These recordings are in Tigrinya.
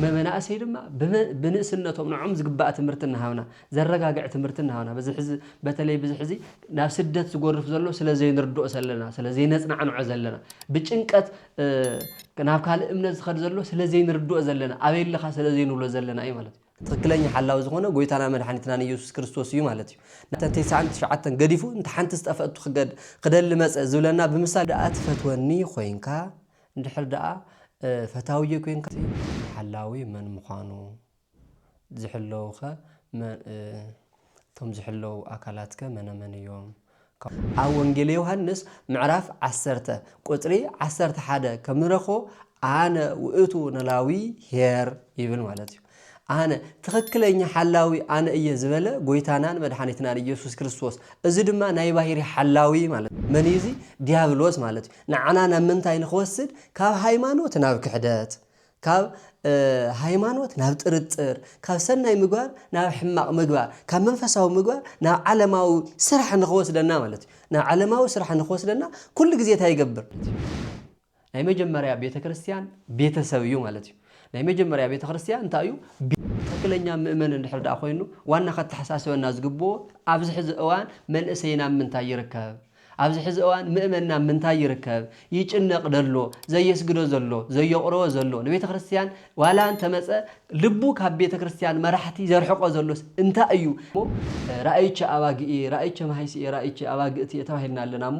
መመናእሰይ ድማ ብንእስነቶም ንዖም ዝግባእ ትምህርቲ እናሃብና ዘረጋግዕ ትምህርቲ እናሃብና በዚ ሕዚ በተለይ ብዚ ሕዚ ናብ ስደት ዝጎርፍ ዘሎ ስለ ዘይንርድኦ ሰለና ስለ ዘይነጽናዕንዖ ዘለና ብጭንቀት ናብ ካልእ እምነት ዝኸድ ዘሎ ስለ ዘይንርድኦ ዘለና ኣበይ ኣለኻ ስለ ዘይንብሎ ዘለና እዩ ማለት እዩ። ትኽክለኛ ሓላዊ ዝኾነ ጎይታናን መድሓኒትናን ኢየሱስ ክርስቶስ እዩ ማለት እዩ። ነተን ተስዓን ትሽዓተን ገዲፉ እንተ ሓንቲ ዝጠፈእቱ ክደሊ መጸ ዝብለና ብምሳሌ እዩ። ደኣ ትፈትወኒ ኮይንካ እንድሕር ደኣ ፈታዊዮ ኴንካ እቲ ሓላዊ መን ምዃኑ፣ ዝሕለዉኸ እቶም ዝሕለዉ ኣካላትከ መነመን እዮም? ኣብ ወንጌል ዮሃንስ ምዕራፍ ዓሰርተ ቁጽሪ ዓሰርተ ሓደ ከም ንረኽቦ ኣነ ውእቱ ኖላዊ ኄር ይብል ማለት እዩ። ኣነ ትኽክለኛ ሓላዊ ኣነ እየ ዝበለ ጎይታናን መድሓኒትናን እየሱስ ክርስቶስ እዚ ድማ ናይ ባሂሪ ሓላዊ ማለት እዩ። መን እዩ እዚ? ዲያብሎስ ማለት እዩ። ንዓና ናብ ምንታይ ንኽወስድ? ካብ ሃይማኖት ናብ ክሕደት፣ ካብ ሃይማኖት ናብ ጥርጥር፣ ካብ ሰናይ ምግባር ናብ ሕማቕ ምግባር፣ ካብ መንፈሳዊ ምግባር ናብ ዓለማዊ ስራሕ ንኽወስደና ማለት እዩ። ናብ ዓለማዊ ስራሕ ንኽወስደና ኩሉ ግዜ እንታይ ይገብር? ናይ መጀመርያ ቤተ ክርስትያን ቤተሰብ እዩ ማለት እዩ። ናይ መጀመርያ ቤተ ክርስትያ እንታይ እዩ? ትክክለኛ ምእመን እንድሕር ድኣ ኮይኑ ዋና ከተሓሳስበና ዝግብኦ ኣብዚ ሕዚ እዋን መንእሰይና ኣብ ምንታይ ይርከብ? ኣብዚ ሕዚ እዋን ምእመንና ኣብ ምንታይ ይርከብ? ይጭነቅ ደሎ? ዘየስግዶ ዘሎ? ዘየቁረቦ ዘሎ? ንቤተ ክርስትያን ዋላ እንተመጸ ልቡ ካብ ቤተ ክርስትያን መራሕቲ ዘርሕቆ ዘሎስ እንታይ እዩ? እሞ ራእይቼ ኣባግእየ፣ ራእይቼ ማሃይስየ፣ ራእይቼ ኣባግእትየ ተባሂልና ኣለና እሞ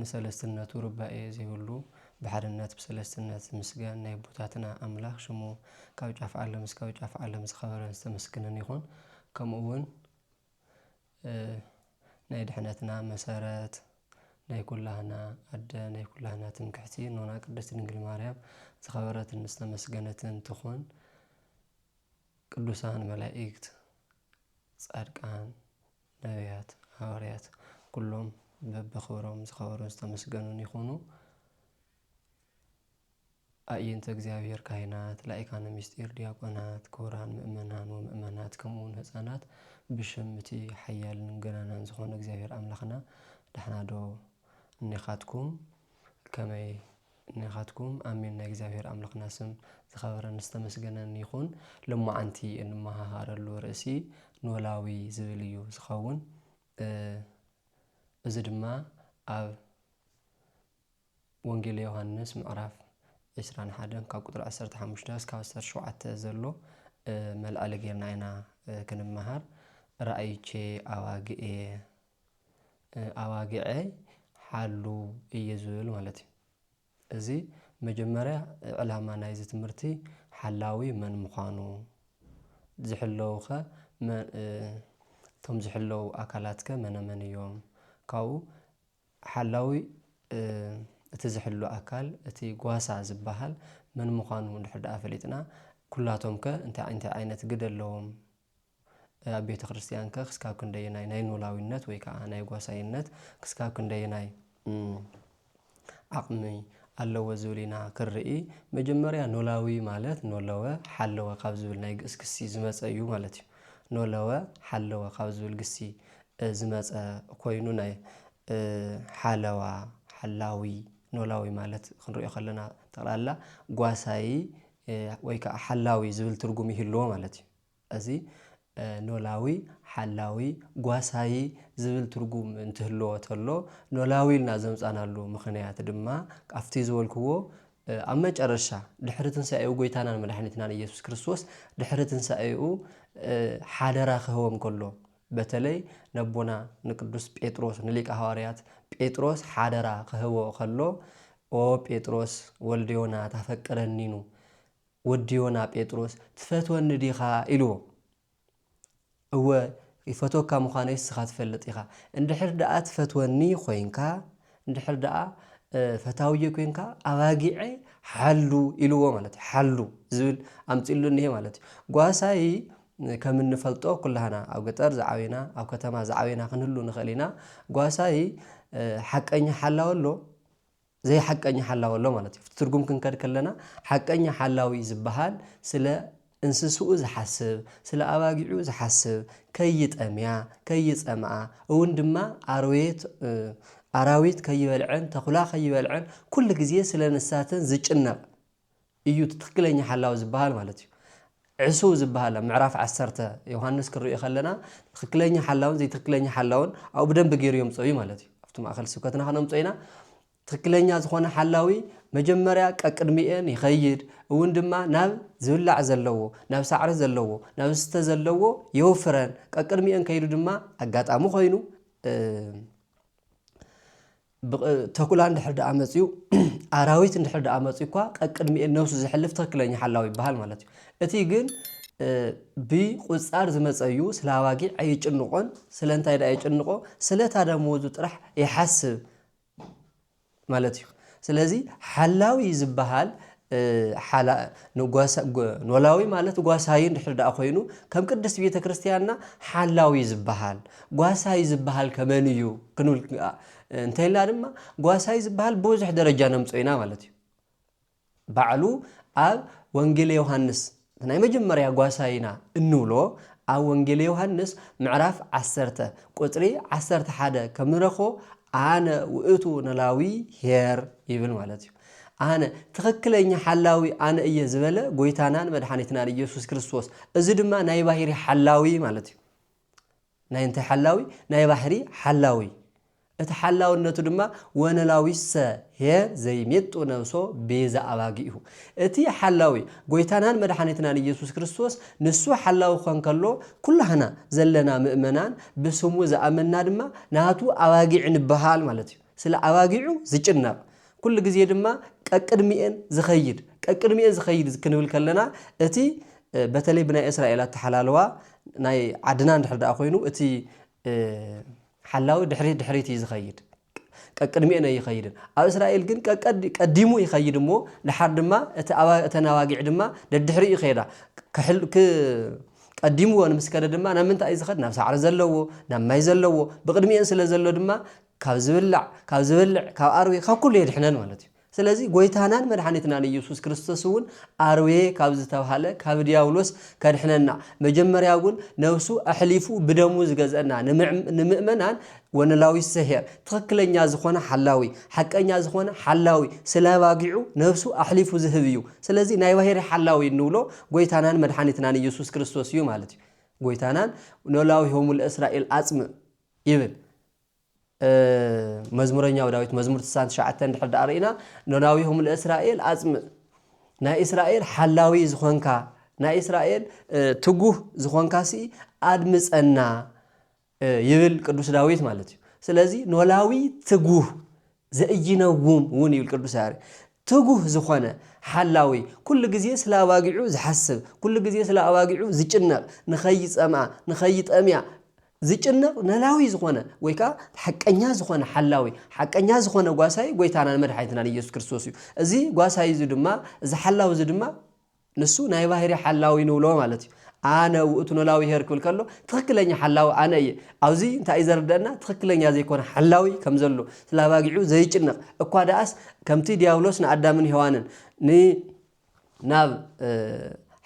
ንሰለስትነቱ ርባኤ ዘይብሉ ብሓድነት ብሰለስትነት ዝምስገን ናይ ኣቦታትና ኣምላኽ ሽሙ ካብ ጫፍ ዓለም እስካብ ጫፍ ዓለም ዝኸበረን ዝተመስግንን ይኹን ከምኡ ውን ናይ ድሕነትና መሰረት ናይ ኩላህና ኣደ ናይ ኩላህና ትምክሕቲ እኖና ቅድስት ድንግል ማርያም ዝኸበረትን ዝተመስገነትን ትኹን ቅዱሳን መላኢክት ጻድቃን ነብያት፣ ሃዋርያት፣ ኩሎም በብኽብሮም ዝኸበሩን ዝተመስገኑን ይኹኑ። ኣዒይንተ እግዚኣብሔር ካህናት፣ ላኢካነ ምስጢር ዲያቆናት፣ ክቡራን ምእመናን ወምእመናት ከምኡ ውን ህጻናት ብሽም እቲ ሓያልን ገናናን ዝኾነ እግዚኣብሔር ኣምላኽና ዳሕና ዶ እኔኻትኩም ከመይ ናኻትኩም ኣሜን ናይ እግዚኣብሔር ኣምላኽና ስም ዝኸበረን ዝተመስገነን ይኹን ሎማዓንቲ እንመሃሃረሉ ርእሲ ኖላዊ ዝብል እዩ ዝኸውን እዚ ድማ ኣብ ወንጌል ዮሐንስ ምዕራፍ 21 ካብ ቁጥሪ 15 እስካብ 17 ዘሎ መልዕሊ ጌርና ኢና ክንመሃር ራእይቼ ኣባግኤ ኣባጊዐይ ሓሉ እየ ዝብል ማለት እዩ እዚ መጀመርያ ዕላማ ናይዚ ትምህርቲ ሓላዊ መን ምዃኑ ዝሕለዉኸ እቶም ዝሕለዉ ኣካላትከ መነመን እዮም ካብኡ ሓላዊ እቲ ዝሕሉ ኣካል እቲ ጓሳ ዝበሃል መን ምዃኑ እንድሕር ደኣ ፈሊጥና ኩላቶምከ እንታይ እንታይ ዓይነት ግደ ኣለዎም ኣብ ቤተ ክርስቲያንከ ክስካብ ክንደየናይ ናይ ኖላዊነት ወይ ከዓ ናይ ጓሳይነት ክስካብ ክንደየናይ ዓቕሚ ኣለዎ ዝብል ኢና ክንርኢ። መጀመርያ ኖላዊ ማለት ኖለወ ሓለወ ካብ ዝብል ናይ ግእዝ ክሲ ዝመፀ እዩ ማለት እዩ። ኖለወ ሓለወ ካብ ዝብል ግሲ ዝመፀ ኮይኑ ናይ ሓለዋ ሓላዊ ኖላዊ ማለት ክንሪኦ ከለና ጠቕላላ ጓሳዪ ወይ ከኣ ሓላዊ ዝብል ትርጉም ይህልዎ ማለት እዩ። እዚ ኖላዊ፣ ሓላዊ፣ ጓሳዪ ዝብል ትርጉም እንትህልዎ ተሎ፣ ኖላዊ ኢልና ዘምጻናሉ ምኽንያት ድማ ካብቲ ዝበልክዎ ኣብ መጨረሻ ድሕሪ ትንሳኤኡ ጎይታናን መድሓኒትናን ኢየሱስ ክርስቶስ ድሕሪ ትንሳኤኡ ሓደራ ክህቦም ከሎ በተለይ ነቦና ንቅዱስ ጴጥሮስ ንሊቀ ሃዋርያት ጴጥሮስ ሓደራ ክህቦ ከሎ ኦ ጴጥሮስ ወልደ ዮና ታፈቅረኒኑ ወዲ ዮና ጴጥሮስ ትፈትወኒ ዲኻ ኢልዎ እወ ይፈትወካ ምዃነይ ንስኻ ትፈልጥ ኢኻ እንድሕር ደኣ ትፈትወኒ ኮይንካ እንድሕር ደኣ ፈታውየ ኮይንካ ኣባጊዐይ ሓሉ ኢልዎ ማለት እዩ ሓሉ ዝብል ኣምፂሉ እኒሄ ማለት እዩ ጓሳይ ከም እንፈልጦ ኩላህና ኣብ ገጠር ዝዓበና ኣብ ከተማ ዝዓበና ክንህሉ ንኽእል ኢና። ጓሳይ ሓቀኛ ሓላዊ ኣሎ ዘይሓቀኛ ሓላዊ ኣሎ ማለት እዩ። ትርጉም ክንከድ ከለና ሓቀኛ ሓላዊ ዝበሃል ስለ እንስስኡ ዝሓስብ ስለ ኣባጊዑ ዝሓስብ ከይጠምያ ከይጸምኣ እውን ድማ ኣርዌት ኣራዊት ከይበልዐን ተኹላ ከይበልዐን ኩሉ ግዜ ስለ ንሳተን ዝጭነቕ እዩ እቲ ትክክለኛ ሓላዊ ዝበሃል ማለት እዩ። ዕሱብ ዝበሃል ኣብ ምዕራፍ ዓሰርተ ዮሃንስ ክንሪኦ ከለና ትክክለኛ ሓላውን ዘይትክክለኛ ሓላውን ኣብኡ ብደንቢ ገይሩ የምፅኦ እዩ ማለት እዩ። ኣብቲ ማእኸል ስብከትና ከነምፅኦ ኢና። ትክክለኛ ዝኾነ ሓላዊ መጀመርያ ቀቅድሚኤን ይኸይድ እውን ድማ ናብ ዝብላዕ ዘለዎ ናብ ሳዕሪ ዘለዎ ናብ ዝስተ ዘለዎ የውፍረን ቀቅድሚኤን ከይዱ ድማ ኣጋጣሚ ኮይኑ ተኩላ እንድሕር ደኣ መጺኡ፣ ኣራዊት እንድሕር ደኣ መጺኡኳ ቀቅድሚኤን ነብሱ ዘሕልፍ ትክክለኛ ሓላዊ ይበሃል ማለት እዩ። እቲ ግን ብቁጻር ዝመጸ እዩ፣ ስለ ኣባጊዕ ኣይጭንቆን፣ ስለ እንታይ ደኣ የጭንቆ ስለ እታ ደመወዙ ጥራሕ ይሓስብ ማለት እዩ። ስለዚ ሓላዊ ዝበሃል ሓላ ንጓሳ ኖላዊ ማለት ጓሳዩ እንድሕር ደኣ ኮይኑ ከም ቅድስት ቤተ ክርስቲያንና ሓላዊ ዝበሃል ጓሳይ ዝበሃል ከመን እዩ ክንብል እንተኢልና ድማ ጓሳይ ዝበሃል ብብዙሕ ደረጃ ነምጾ ኢና ማለት እዩ ባዕሉ ኣብ ወንጌለ ዮሃንስ እቲ ናይ መጀመርያ ጓሳ ኢና እንብሎ ኣብ ወንጌል ዮሃንስ ምዕራፍ ዓሰርተ ቁጽሪ ዓሰርተ ሓደ ከም ንረክቦ ኣነ ውእቱ ነላዊ ኄር ይብል ማለት እዩ። ኣነ ትኽክለኛ ሓላዊ ኣነ እየ ዝበለ ጎይታናን መድሓኒትናን ኢየሱስ ክርስቶስ እዚ ድማ ናይ ባሂሪ ሓላዊ ማለት እዩ። ናይ እንታይ ሓላዊ? ናይ ባሕሪ ሓላዊ። እቲ ሓላውነቱ ድማ ወነላዊሰ ሔየ ዘይሜጡ ነብሶ ቤዛ ኣባጊእሁ። እቲ ሓላዊ፣ ጐይታናን መድሓኒትናን ኢየሱስ ክርስቶስ፣ ንሱ ሓላዊ ክኾን ከሎ፣ ኩላህና ዘለና ምእመናን ብስሙ ዝኣመንና ድማ ናቱ ኣባጊዕ ንበሃል ማለት እዩ። ስለ ኣባጊዑ ዝጭነቕ፣ ኩሉ ግዜ ድማ ቀቅድሚኤን ዝኸይድ፣ ቀቅድሚኤን ዝኸይድ ክንብል ከለና እቲ በተለይ ብናይ እስራኤል ኣተሓላልዋ ናይ ዓድና እንድሕር ደኣ ኮይኑ እቲ ሓላዊ ድሕሪት ድሕሪት እዩ ዝኸይድ። ቀቅድሚኤን ኣይኸይድን። ኣብ እስራኤል ግን ቀቀድ ቀዲሙ ይኸይድ እሞ ድሓር ድማ እቲ ኣባ እተን ኣባጊዕ ድማ ደድሕሪኡ ይኸይዳ። ክሕል ክ ቀዲምዎን ምስ ከደ ድማ ናብ ምንታይ እዩ ዝኸድ? ናብ ሳዕሪ ዘለዎ፣ ናብ ማይ ዘለዎ፣ ብቕድሚኤን ስለ ዘሎ ድማ ካብ ዝብላዕ ካብ ዝበልዕ ካብ ኣርዌ ካብ ኩሉ የድሕነን ማለት እዩ ስለዚ ጎይታናን መድሓኒትናን ኢየሱስ ክርስቶስ እውን ኣርዌ ካብ ዝተብሃለ ካብ ዲያብሎስ ከድሕነና መጀመርያ እውን ነብሱ ኣሕሊፉ ብደሙ ዝገዘእና ንምእመናን ወነላዊ ሰሄር ትኽክለኛ ዝኾነ ሓላዊ ሓቀኛ ዝኾነ ሓላዊ ስለ ኣባጊዑ ነብሱ ኣሕሊፉ ዝህብ እዩ ስለዚ ናይ ባህሪ ሓላዊ እንብሎ ጎይታናን መድሓኒትናን ኢየሱስ ክርስቶስ እዩ ማለት እዩ ጎይታናን ኖላዊሆሙ ለእስራኤል ኣጽምእ ይብል መዝሙረኛው ዳዊት መዝሙር ትስዓን ትሽዓተ እንድሕር ደኣ ርኢና ኖላዊሁም ለእስራኤል ኣጽምእ ናይ እስራኤል ሓላዊ ዝኾንካ ናይ እስራኤል ትጉህ ዝኾንካ ሲ ኣድምጸና ይብል ቅዱስ ዳዊት ማለት እዩ ስለዚ ኖላዊ ትጉህ ዘኢይነውም እውን ይብል ቅዱስ ያሬድ። ትጉህ ዝኾነ ሓላዊ፣ ኩሉ ግዜ ስለ ኣባጊዑ ዝሓስብ፣ ኩሉ ግዜ ስለ ኣባጊዑ ዝጭነቕ፣ ንኸይጸምኣ፣ ንኸይጠምያ ዝጭነቕ ነላዊ ዝኾነ ወይ ከኣ ሓቀኛ ዝኾነ ሓላዊ፣ ሓቀኛ ዝኾነ ጓሳይ ጎይታናን መድሓኒትናን ኢየሱስ ክርስቶስ እዩ። እዚ ጓሳይ እዚ ድማ እዚ ሓላዊ እዚ ድማ ንሱ ናይ ባህሪ ሓላዊ ንብሎ ማለት እዩ። ኣነ ውእቱ ኖላዊ ኄር ክብል ከሎ ትኽክለኛ ሓላዊ ኣነ እየ። ኣብዚ እንታይ እዩ ዘርደእና ትኽክለኛ ዘይኮነ ሓላዊ ከም ዘሎ ስለ ኣባጊዑ ዘይጭነቕ እኳ ደኣስ ከምቲ ዲያብሎስ ንኣዳምን ሔዋንን ን ናብ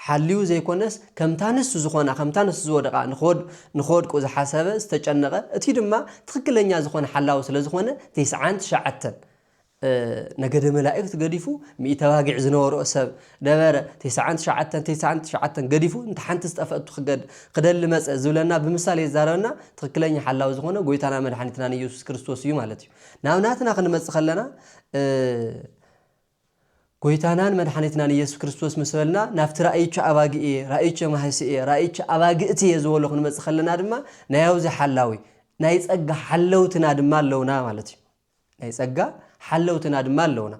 ሓልዩ ዘይኮነስ ከምታ ንሱ ዝኾና ከምታ ንሱ ዝወደቓ ንክወድቁ ዝሓሰበ ዝተጨነቐ እቲ ድማ ትኽክለኛ ዝኾነ ሓላዊ ስለ ዝኾነ ቴስዓን ትሽዓተን ነገደ መላእክት ገዲፉ ሚእቲ ኣባጊዕ ዝነበርኦ ሰብ ነበረ ቴስዓን ትሽዓተን ቴስዓን ትሽዓተን ገዲፉ እንተ ሓንቲ ዝጠፈእቱ ክገድ ክደሊ መጸ ዝብለና ብምሳሌ ዝዛረበና ትክክለኛ ሓላዊ ዝኮነ ጎይታና መድሓኒትናን ኢየሱስ ክርስቶስ እዩ ማለት እዩ ናብ ናትና ክንመጽእ ከለና ጎይታናን መድሓኒትናን ኢየሱስ ክርስቶስ ምስ በልና ናብቲ ራእይቸ ኣባጊዕ እየ ራእይቸ ማህሲ እየ ራእይቸ ኣባግእቲ እየ ዝበሎ ክንመጽእ ከለና ድማ ናይ ኣብዚ ሓላዊ ናይ ጸጋ ሓለውትና ድማ ኣለውና ማለት እዩ ናይ ጸጋ ሓለውትና ድማ ኣለውና።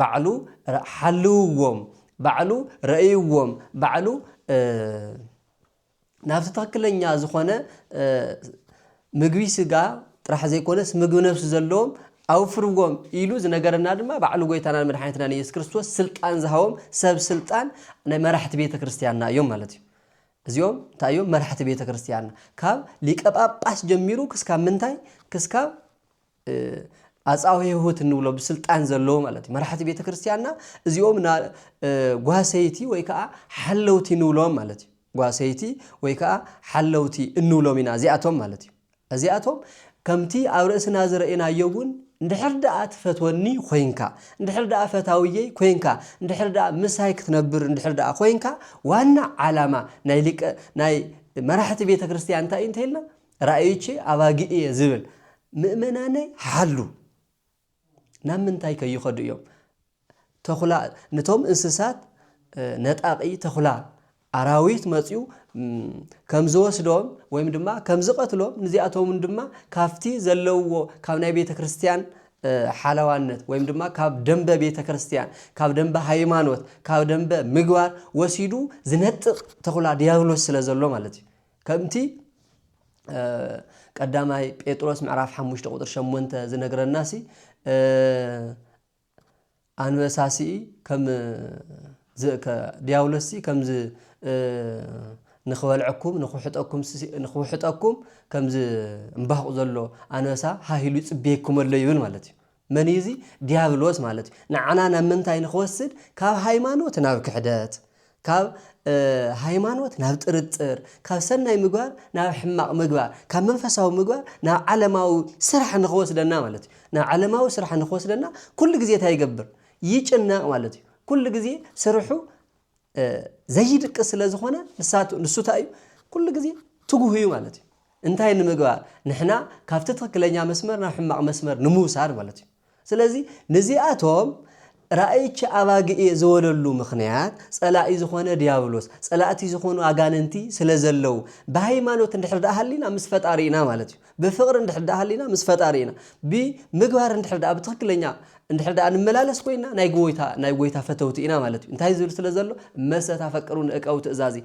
ባዕሉ ሓልውዎም፣ ባዕሉ ረእይዎም፣ ባዕሉ ናብቲ ትኽክለኛ ዝኾነ ምግቢ ስጋ ጥራሕ ዘይኮነስ ምግቢ ነፍሲ ዘለዎም ኣውፍርዎም ኢሉ ዝነገረና ድማ ባዕሉ ጎይታናን መድሓኒትናን ኢየሱስ ክርስቶስ ስልጣን ዝሃቦም ሰብ ስልጣን ናይ መራሕቲ ቤተ ክርስቲያንና እዮም ማለት እዩ እዚኦም እንታይ እዮም መራሕቲ ቤተክርስትያንና ካብ ሊቀ ጳጳስ ጀሚሩ ክስካብ ምንታይ ክስካብ ኣጻውሔሁት እንብሎ ብስልጣን ዘለዎ ማለት እዩ መራሕቲ ቤተክርስትያንና እዚኦም ጓሰይቲ ወይ ከዓ ሓለውቲ ንብሎም ማለት እዩ ጓሰይቲ ወይ ከዓ ሓለውቲ እንብሎም ኢና እዚኣቶም ማለት እዩ እዚኣቶም ከምቲ ኣብ ርእስና ዝረኤናዮ እውን እንድሕር ደኣ ትፈትወኒ ኮይንካ፣ እንድሕር ደኣ ፈታውየይ ኮይንካ፣ እንድሕር ደኣ ምሳይ ክትነብር እንድሕር ደኣ ኮይንካ ዋና ዓላማ ናይ ሊቀ ናይ መራሕቲ ቤተ ክርስቲያን እንታይ እዩ እንተይልና ራእዮቼ ኣባጊዕ እየ ዝብል ምእመናነይ ሓሉ ናብ ምንታይ ከ ይኸዱ እዮም? ተኹላ ነቶም እንስሳት ነጣቒ ተኹላ ኣራዊት መጺኡ ከም ዝወስዶም ወይም ድማ ከም ዝቐትሎም ንዚኣቶምን ድማ ካብቲ ዘለውዎ ካብ ናይ ቤተ ክርስቲያን ሓለዋነት ወይም ድማ ካብ ደንበ ቤተ ክርስቲያን ካብ ደንበ ሃይማኖት ካብ ደንበ ምግባር ወሲዱ ዝነጥቕ ተኹላ ዲያብሎስ ስለ ዘሎ ማለት እዩ ከምቲ ቀዳማይ ጴጥሮስ ምዕራፍ ሓሙሽተ ቁፅሪ ሸሞንተ ዝነግረናሲ ኣንበሳሲ ከም ዲያብሎስሲ ከምዚ ንክበልዐኩም ንክውሕጠኩም ንክውሕጠኩም ከምዚ እምባኹ ዘሎ ኣንበሳ ሃሂሉ ይፅበየኩም ኣሎ ይብል ማለት እዩ መን እዩ እዚ ድያብሎስ ማለት እዩ ንዓና ናብ ምንታይ ንክወስድ ካብ ሃይማኖት ናብ ክሕደት ካብ ሃይማኖት ናብ ጥርጥር ካብ ሰናይ ምግባር ናብ ሕማቕ ምግባር ካብ መንፈሳዊ ምግባር ናብ ዓለማዊ ስራሕ ንክወስደና ማለት እዩ ናብ ዓለማዊ ስራሕ ንክወስደና ኩሉ ግዜ እንታይ ይገብር ይጭነቕ ማለት እዩ ኩሉ ግዜ ስርሑ ዘይድቅስ ስለ ዝኾነ ንሱ እንታይ እዩ ኩሉ ግዜ ትጉህ እዩ ማለት እዩ። እንታይ ንምግባር ንሕና ካብቲ ትኽክለኛ መስመር ናብ ሕማቕ መስመር ንምውሳድ ማለት እዩ። ስለዚ ንዚኣቶም ራእይቺ ኣባጊ እየ ዝበለሉ ምኽንያት ጸላኢ ዝኾነ ዲያብሎስ ጸላእቲ ዝኾኑ ኣጋንንቲ ስለ ዘለው ብሃይማኖት እንድሕር ደኣ ሃሊና ምስ ፈጣሪና ማለት እዩ ብፍቕሪ እንድሕር ደኣ ሃሊና ምስ ፈጣሪ ኢና። ብምግባር እንድሕር ደኣ ብትኽክለኛ እንድሕር ደኣ ንመላለስ ኮይንና ናይ ጎይታ ናይ ጎይታ ፈተውቲ ኢና ማለት እዩ። እንታይ ዝብል ስለ ዘሎ እመሰ ታፈቅሩኒ እቀቡ ትእዛዚ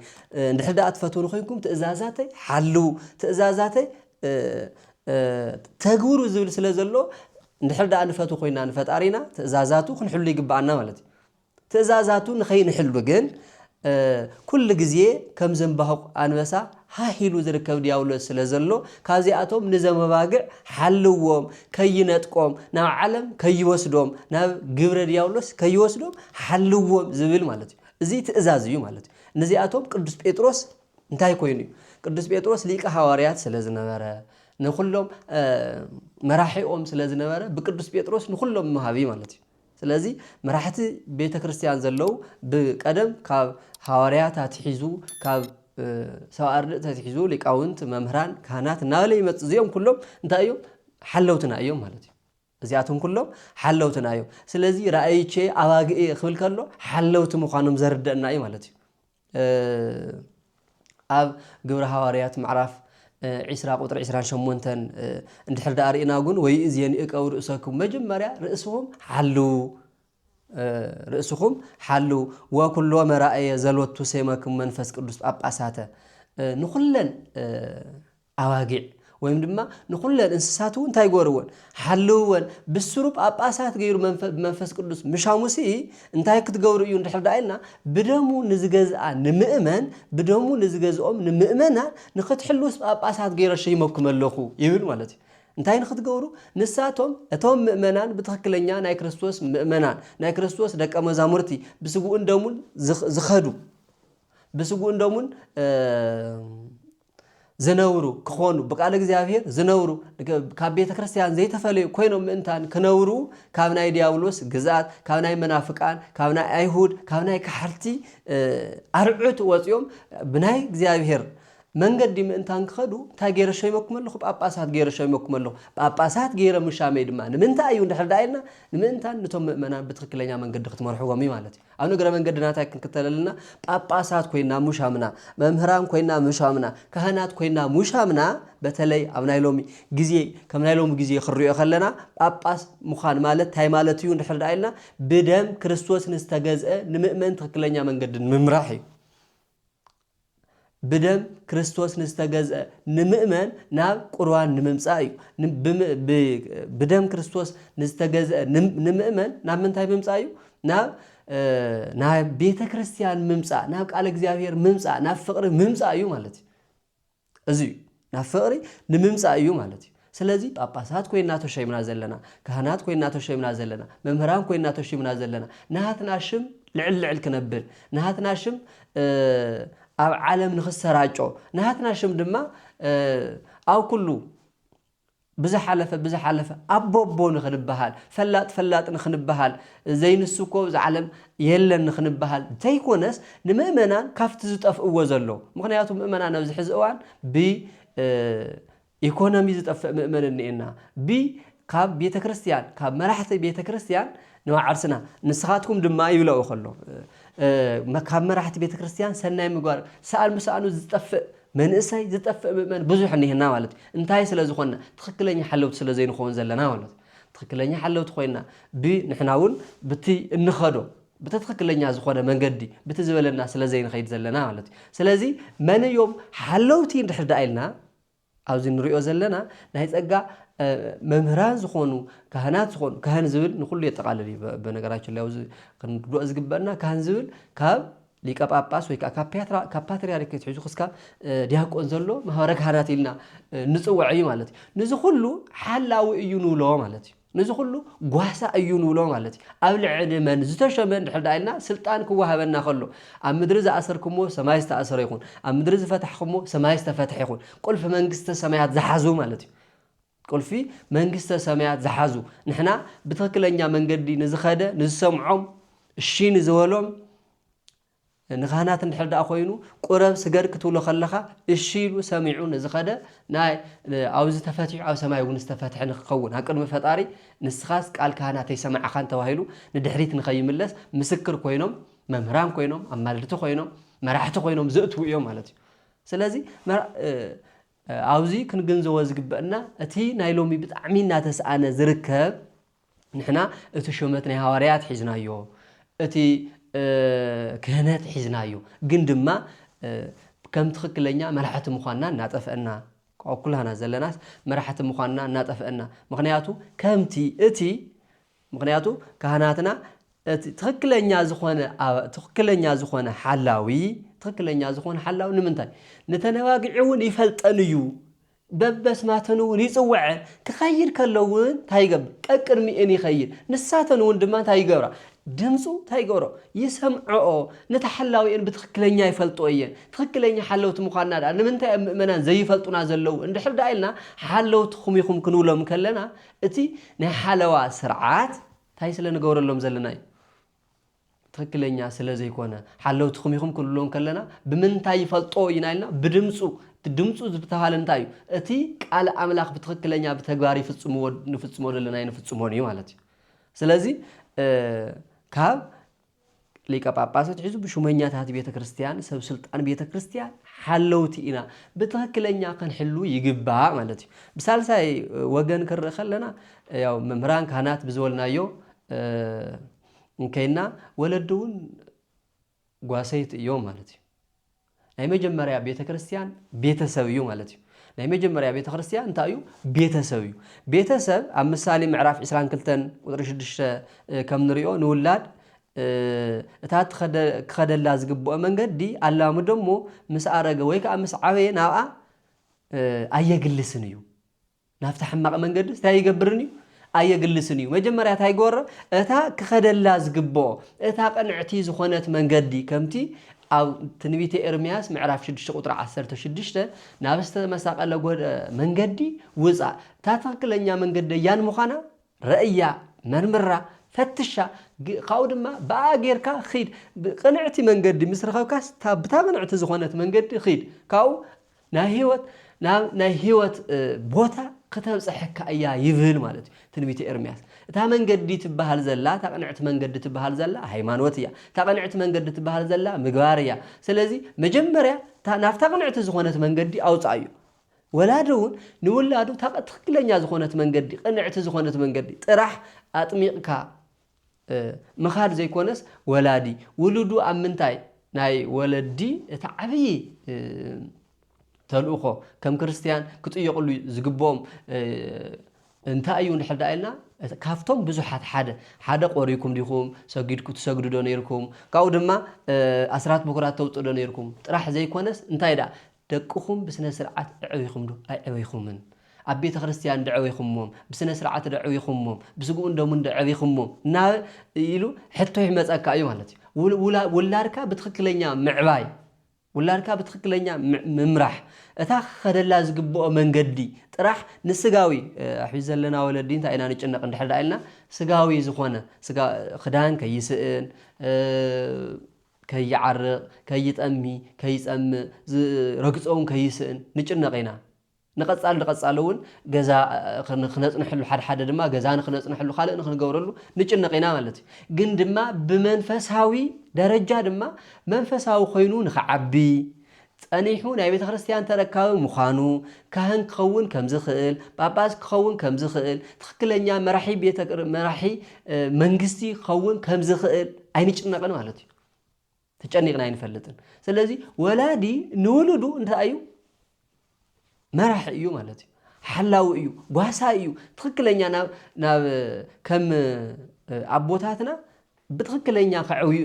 እንድሕር ደኣ ትፈትዉኒ ኮይንኩም ትእዛዛተይ ሓልዉ ትእዛዛተይ ተግብሩ ዝብል ስለ ዘሎ እንድሕር ደኣ ንፈትው ኮይንና ንፈጣሪና ትእዛዛቱ ክንሕሉ ይግበኣና ማለት እዩ። ትእዛዛቱ ንኸይንሕሉ ግን ኩሉ ግዜ ከም ዘምባሁቕ ኣንበሳ ሃህ ኢሉ ዝርከብ ድያብሎስ ስለ ዘሎ ካብዚኣቶም ንዘም ኣባግዕ ሓልዎም ከይነጥቆም ናብ ዓለም ከይወስዶም ናብ ግብረ ድያብሎስ ከይወስዶም ሓልዎም ዝብል ማለት እዩ። እዚ ትእዛዝ እዩ ማለት እዩ። ንዚኣቶም ቅዱስ ጴጥሮስ እንታይ ኮይኑ እዩ? ቅዱስ ጴጥሮስ ሊቀ ሃዋርያት ስለ ዝነበረ ንኹሎም መራሒኦም ስለ ዝነበረ ብቅዱስ ጴጥሮስ ንኹሎም መሃቢ ማለት እዩ። ስለዚ መራሕቲ ቤተ ክርስትያን ዘለዉ ብቀደም ካብ ሃዋርያት ኣትሒዙ ካብ ሰብኣ ኣርድእቲ ኣትሒዙ ሊቃውንት መምህራን ካህናት እናበለ ይመፅ እዚኦም ኩሎም እንታይ እዮም ሓለውትና እዮም ማለት እዩ እዚኣቶም ኩሎም ሓለውትና እዮም ስለዚ ራእይቼ ኣባግኤ ክብል ከሎ ሓለውቲ ምዃኖም ዘርደእና እዩ ማለት እዩ ኣብ ግብሪ ሃዋርያት ምዕራፍ ዒስራ ቁፅሪ ዒስራን ሸሞንተን እንድሕር ደኣ ርኢና ግን ወይእዝ የንእቀው ርእሰኩም መጀመርያ ርእስኹም ሓልው ርእስኹም ሓልው ወኩሎ መራእየ ዘሎቱ ሴመክም መንፈስ ቅዱስ ጳጳሳተ ንኹለን ኣባጊዕ ወይም ድማ ንኹለን እንስሳት እውን እንታይ ጎርወን ሓልውወን ብስሩ ጳጳሳት ገይሩ ብመንፈስ ቅዱስ ምሻሙሲ እንታይ ክትገብሩ እዩ እንድሕር ዳ ኢልና ብደሙ ንዝገዝኣ ንምእመን ብደሙ ንዝገዝኦም ንምእመናን ንክትሕልውስ ጳጳሳት ገይረ ሸይመኩም ኣለኹ ይብል ማለት እዩ እንታይ ንክትገብሩ ንሳቶም እቶም ምእመናን ብትክክለኛ ናይ ክርስቶስ ምእመናን ናይ ክርስቶስ ደቀ መዛሙርቲ ብስጉኡን ደሙን ዝኸዱ ብስጉኡን ደሙን ዝነብሩ ክኾኑ ብቃል እግዚኣብሔር ዝነብሩ ካብ ቤተ ክርስቲያን ዘይተፈለዩ ኮይኖም ምእንታን ክነብሩ ካብ ናይ ዲያብሎስ ግዝኣት ካብ ናይ መናፍቃን ካብ ናይ ኣይሁድ ካብ ናይ ካሕርቲ ኣርዑት ወፂኦም ብናይ እግዚኣብሔር መንገዲ ምእንታን ክኸዱ እንታይ ገይረ ሸይመኩም ኣለኹ ጳጳሳት ገይረ ሸይመኩም ኣለኹ ጳጳሳት ገይረ ምሻመይ ድማ ንምንታይ እዩ እንድሕር ደኣ ኢልና ንምእንታን ንቶም ምእመናን ብትኽክለኛ መንገዲ ክትመርሕዎም እዩ ማለት እዩ ኣብ ንግረ መንገድና እንታይ ክንክተል ኣለና? ጳጳሳት ኮይና ሙሻምና፣ መምህራን ኮይና ሙሻምና፣ ካህናት ኮይና ሙሻምና፣ በተለይ ኣብ ናይ ሎሚ ግዜ ከም ናይ ሎሚ ግዜ ክንሪኦ ከለና ጳጳስ ምዃን ማለት እንታይ ማለት እዩ እንድሕር ደኣ ኢልና ብደም ክርስቶስ ንዝተገዝአ ንምእመን ትክክለኛ መንገዲ ንምምራሕ እዩ። ብደም ክርስቶስ ንዝተገዝአ ንምእመን ናብ ቁርባን ንምምጻእ እዩ። ብደም ክርስቶስ ንዝተገዝአ ንምእመን ናብ ምንታይ ምምጻእ እዩ? ናብ ናብ ቤተ ክርስቲያን ምምጻእ፣ ናብ ቃል እግዚኣብሔር ምምጻእ፣ ናብ ፍቕሪ ምምጻእ እዩ ማለት እዩ። እዚ እዩ ናብ ፍቕሪ ንምምፃእ እዩ ማለት እዩ። ስለዚ ጳጳሳት ኮይና ተሸይምና ዘለና፣ ካህናት ኮይና ተሸይምና ዘለና፣ መምህራን ኮይና ተሽይምና ዘለና ናሃትና ሽም ልዕል ልዕል ክነብል ናሃትና ሽም ኣብ ዓለም ንክሰራጮ ናሃትና ሽም ድማ ኣብ ኩሉ ብዝሓለፈ ብዝሓለፈ ኣቦ ኣቦ ንኽንበሃል፣ ፈላጥ ፈላጥ ንኽንበሃል፣ ዘይንሱ እኮ ኣብዛ ዓለም የለን ንኽንበሃል ዘይኮነስ ንምእመናን ካብቲ ዝጠፍእዎ ዘሎ ምኽንያቱ ምእመናን ኣብዚ ሕዚ እዋን ብ ኢኮኖሚ ዝጠፍእ ምእመን እኒኤና ብ ካብ ቤተ ክርስቲያን ካብ መራሕቲ ቤተ ክርስቲያን ንባዕርስና ንስኻትኩም ድማ ይብለኦ ከሎ ካብ መራሕቲ ቤተ ክርስቲያን ሰናይ ምግባር ሰኣን ብሰኣኑ ዝጠፍእ መንእሰይ ዝጠፍእ ምእመን ብዙሕ እኒሀና ማለት እዩ። እንታይ ስለ ዝኾንና? ትኽክለኛ ሓለውቲ ስለ ዘይንኾን ዘለና ማለት እዩ። ትኽክለኛ ሓለውቲ ኮይንና ብ ንሕና እውን ብቲ እንኸዶ ብቲ ትኽክለኛ ዝኾነ መንገዲ ብቲ ዝበለና ስለ ዘይንኸይድ ዘለና ማለት እዩ። ስለዚ መን እዮም ሓለውቲ እንድሕር ደኣ ኢልና ኣብዚ ንሪኦ ዘለና ናይ ጸጋ መምህራን ዝኾኑ ካህናት ዝኾኑ ካህን ዝብል ንኩሉ የጠቃልል እዩ። በነገራችን ላይ ኣብዚ ክንርድኦ ዝግበአና ካህን ዝብል ካብ ሊቀ ጳጳስ ወይ ከኣ ካብ ፓትርያርክ ኣትሒዙ ክስካብ ዲያቆን ዘሎ ማህበረ ካህናት ኢልና ንጽውዕ እዩ ማለት እዩ። ንዚ ኩሉ ሓላዊ እዩ ንብሎ ማለት እዩ። ንዚ ኩሉ ጓሳ እዩ ንብሎ ማለት እዩ። ኣብ ልዕሊ መን ዝተሾመ እንድሕር ደኣ ኢልና ስልጣን ክወሃበና ከሎ ኣብ ምድሪ ዝኣሰርክምዎ ሰማይ ዝተኣሰረ ይኹን ኣብ ምድሪ ዝፈታሕክምዎ ሰማይ ዝተፈትሐ ይኹን ቁልፊ መንግስተ ሰማያት ዝሓዙ ማለት እዩ። ቁልፊ መንግስተ ሰማያት ዝሓዙ ንሕና ብትኽክለኛ መንገዲ ንዝኸደ ንዝሰምዖም እሺ ንዝበሎም ንኻህናት እንድሕር ደኣ ኮይኑ ቁረብ ስገድ ክትብሎ ከለኻ እሺ ኢሉ ሰሚዑ ንዝኸደ ናይ ኣብዚ ተፈቲሑ ኣብ ሰማይ እውን ዝተፈትሐ ንክኸውን ኣብ ቅድሚ ፈጣሪ ንስኻስ ቃል ካህናተይ ሰማዕኻን ተባሂሉ ንድሕሪት ንኸይምለስ ምስክር ኮይኖም መምህራን ኮይኖም ኣማልድቲ ኮይኖም መራሕቲ ኮይኖም ዘእትዉ እዮም ማለት እዩ ስለዚ ኣብዚ ክንግንዘቦ ዝግበእና እቲ ናይ ሎሚ ብጣዕሚ እናተስኣነ ዝርከብ ንሕና እቲ ሸመት ናይ ሃዋርያት ሒዝናዮ እቲ ክህነት ሒዝናዮ ግን ድማ ከም ትኽክለኛ መራሕቲ ምዃንና እናጠፍእና ኩላህና ዘለናስ መራሕቲ ምዃንና እናጠፍእና ምኽንያቱ ከምቲ እቲ ምኽንያቱ ካህናትና እቲ ትኽክለኛ ዝኾነ ትኽክለኛ ዝኾነ ሓላዊ ትኽክለኛ ዝኾነ ሓላዊ ንምንታይ ንተነባግዒ እውን ይፈልጠን እዩ በበስማተን እውን ይፅወዐን ክኸይድ ከሎ እውን እንታይ ይገብር ቀቅድሚኤን ይኸይድ ንሳተን እውን ድማ እንታይ ይገብራ ድምፁ እንታይ ይገብሮ ይሰምዐኦ ነቲ ሓላዊኤን ብትኽክለኛ ይፈልጦ እየን ትኽክለኛ ሓለውቲ ምዃንና ድኣ ንምንታይ ኣብ ምእመናን ዘይፈልጡና ዘለዉ እንድሕር ድኣ ኢልና ሓለውትኹም ኢኹም ክንብሎም ከለና እቲ ናይ ሓለዋ ስርዓት ታይ ስለ ንገብረሎም ዘለና እዩ ትክክለኛ ስለ ዘይኮነ ሓለውትኹም ኢኹም ክንብሎ ከለና ብምንታይ ይፈልጦ ኢና ኢልና ብድምፁ እቲ ድምፁ ዝተባሃለ እንታይ እዩ እቲ ቃል ኣምላኽ ብትክክለኛ ብተግባር ይፍፅምዎ ንፍፅሞ ዘለና ኣይንፍፅሞን እዩ ማለት እዩ ስለዚ ካብ ሊቀ ጳጳስ ኣትሒዙ ብሹመኛታት ቤተ ክርስቲያን፣ ሰብ ስልጣን ቤተ ክርስቲያን፣ ሓለውቲ ኢና ብትኽክለኛ ክንሕሉ ይግባእ ማለት እዩ። ብሳልሳይ ወገን ክንርኢ ከለና ያው መምህራን ካህናት ብዝበልናዮ እንከይና ወለዲ እውን ጓሰይቲ እዮም ማለት እዩ። ናይ መጀመርያ ቤተ ክርስትያን ቤተ ሰብ እዩ ማለት እዩ። ናይ መጀመርያ ቤተ ክርስትያን እንታይ እዩ? ቤተ ሰብ እዩ። ቤተ ሰብ ኣብ ምሳሌ ምዕራፍ ዕስራን ክልተን ቁፅሪ ሽዱሽተ ከም ንሪኦ ንውላድ እታ ክኸደላ ዝግብኦ መንገዲ ኣላምዶ እሞ ምስ ኣረገ ወይ ከዓ ምስ ዓበየ ናብኣ ኣየግልስን እዩ። ናብቲ ሕማቕ መንገድስ ታይ ይገብርን እዩ? ኣየግልስን እዩ። መጀመርያ ታይ ይገበሮ? እታ ክኸደላ ዝግብኦ፣ እታ ቅንዕቲ ዝኾነት መንገዲ፣ ከምቲ ኣብ ትንቢተ ኤርምያስ ምዕራፍ ሽዱሽተ ቁጽሪ ዓሰርተ ሽዱሽተ፣ ናብ ዝተመሳቐለ መንገዲ ውጻእ፣ እታ ትኽክለኛ መንገዲ ኣያን ምዃና ረእያ፣ መርምራ፣ ፈትሻ፣ ካብኡ ድማ ብኣኣ ጌርካ ኺድ፣ ቅንዕቲ መንገዲ ምስ ረኸብካስ፣ ብታ ቅንዕቲ ዝኾነት መንገዲ ኺድ፣ ካብኡ ናይ ህይወት ናብ ናይ ህይወት ቦታ ክተብፀሐካ እያ ይብል ማለት እዩ ትንቢተ ኤርምያስ እታ መንገዲ ትበሃል ዘላ እታ ቅንዕቲ መንገዲ ትበሃል ዘላ ሃይማኖት እያ እታ ቅንዕቲ መንገዲ ትበሃል ዘላ ምግባር እያ ስለዚ መጀመርያ ናብታ ቅንዕቲ ዝኾነት መንገዲ ኣውፅኣ እዩ ወላዲ እውን ንውላዱ ታቀ ትክክለኛ ዝኾነት መንገዲ ቅንዕቲ ዝኾነት መንገዲ ጥራሕ ኣጥሚቕካ ምኻድ ዘይኮነስ ወላዲ ውሉዱ ኣብ ምንታይ ናይ ወለዲ እቲ ዓብዪ ተልእኾ ከም ክርስትያን ክጥየቕሉ ዝግብኦም እንታይ እዩ እንድሕር ደኣ ኢልና ካብቶም ብዙሓት ሓደ ሓደ ቆሪኩም ዲኹም ሰጊድኩ ትሰግዱ ዶ ነይርኩም ካብኡ ድማ ኣስራት ብኩራት ተውፅኡ ዶ ነይርኩም ጥራሕ ዘይኮነስ እንታይ ደኣ ደቅኹም ብስነ ስርዓት እዕቢኹም ዶ ኣይዕቢኹምን? ኣብ ቤተ ክርስትያን ዶ ዕቢኹሞም? ብስነ ስርዓት ዶ ዕቢኹሞም? ብስግኡን ደሙን ዶ ዕቢኹሞም? እና ኢሉ ሕቶ ይመጸካ እዩ ማለት እዩ። ውል- ውላ- ውላድካ ብትኽክለኛ ምዕባይ፣ ውላድካ ብትኽክለኛ ም- ምምራሕ፣ እታ ክኸደላ ዝግብኦ መንገዲ ጥራሕ ንስጋዊ እ፣ ሕጂ ዘለና ወለዲ እንታይ ኢና ንጭነቕ እንድሕር ደኣ ኢልና ስጋዊ ዝኾነ ስጋ ክዳን ከይስእን እ፣ ከይዓርቕ፣ ከይጠሚ፣ ከይጸምእ፣ ዝረግጾ'ውን ከይስእን ንጭነቕ ኢና። ንቐጻሊ ንቐጻሊ'ውን ገዛ ንክነጽንሐሉ፣ ሓድሓደ ድማ ገዛ ንክነጽንሐሉ፣ ካልእ ንክንገብረሉ ንጭነቕ ኢና ማለት እዩ። ግን ድማ ብመንፈሳዊ ደረጃ ድማ መንፈሳዊ ኮይኑ ንክዓቢ፣ ጸኒሑ ናይ ቤተ ክርስቲያን ተረካቢ ምዃኑ፣ ካህን ክኸውን ከም ዝኽእል፣ ጳጳስ ክኸውን ከም ዝኽእል፣ ትኽክለኛ መራሒ ቤተ መራሒ መንግስቲ ክኸውን ከም ዝኽእል ኣይንጭነቕን ማለት እዩ። ተጨኒቕና ኣይንፈልጥን። ስለዚ ወላዲ ንውሉዱ እንታይ እዩ መራሒ እዩ ማለት እዩ። ሓላዊ እዩ፣ ጓሳ እዩ። ትኽክለኛ ናብ ናብ ከም ኣቦታትና ብትኽክለኛ ከዕብዩ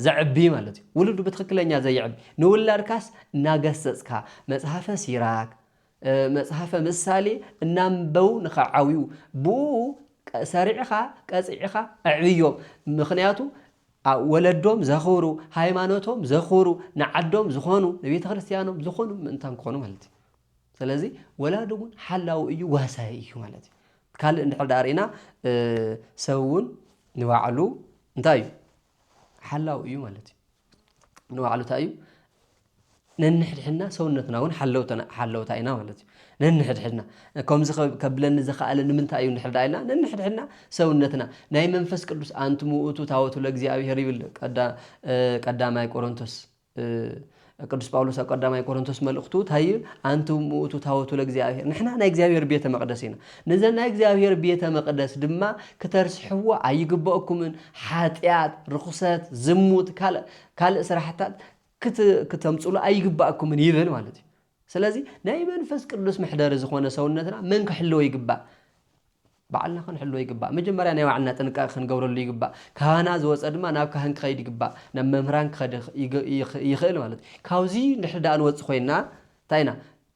ዘዕቢ ማለት እዩ። ውሉዱ ብትኽክለኛ ዘየዕቢ ንውላድካስ እናገሰጽካ መጽሓፈ ሲራክ መጽሓፈ ምሳሌ እናንበው ንኸዓብዩ ብኡ ሰሪዕኻ ቀፂዕኻ ኣዕብዮም። ምክንያቱ ኣብ ወለዶም ዘኽብሩ፣ ሃይማኖቶም ዘኽብሩ፣ ንዓዶም ዝኾኑ፣ ንቤተክርስትያኖም ዝኾኑ ምእንታን ክኾኑ ማለት እዩ። ስለዚ ወላዲ እውን ሓላዊ እዩ፣ ዋሳይ እዩ ማለት እዩ። ካልእ እንድሕር ዳኣ ርኢና ሰብ እውን ንባዕሉ እንታይ እዩ ሓላዊ እዩ ማለት እዩ። ንባዕሉ እንታይ እዩ ነንሕድሕድና ሰውነትና እውን ሓለውታ ኢና ማለት እዩ። ነንሕድሕድና ከምዚ ከብለኒ ዘኸኣለ ንምንታይ እዩ እንድሕር ደኣ ኢልና ነንሕድሕድና ሰውነትና ናይ መንፈስ ቅዱስ ኣንትሙ ውእቱ ታወቱ ለእግዚኣብሔር ይብል ቀዳማይ ቆሮንቶስ ቅዱስ ጳውሎስ ኣብ ቀዳማይ ቆሮንቶስ መልእኽቱ እንታይ ይብል ኣንትሙ ውእቱ ታወቱ ለእግዚኣብሔር ንሕና ናይ እግዚኣብሔር ቤተ መቅደስ ኢና ነዘ ናይ እግዚኣብሔር ቤተ መቅደስ ድማ ክተርስሕዎ ኣይግበእኩምን ሓጢኣት ርኹሰት ዝሙት ካልእ ስራሕታት ክተምጽሉ ኣይግባኣኩምን ይብል ማለት እዩ ስለዚ ናይ መንፈስ ቅዱስ መሕደሪ ዝኾነ ሰውነትና መን ክሕልዎ ይግባእ ባዕልና ክንሕልዎ ይግባእ መጀመርያ ናይ ባዕልና ጥንቃቄ ክንገብረሉ ይግባእ ካህና ዝወፀ ድማ ናብ ካህን ክኸይድ ይግባእ ናብ መምህራን ክኸድ ይኽእል ማለት እዩ ካብዚ ንድሕር ድኣ ንወፅ ኮይና እንታይ ኢና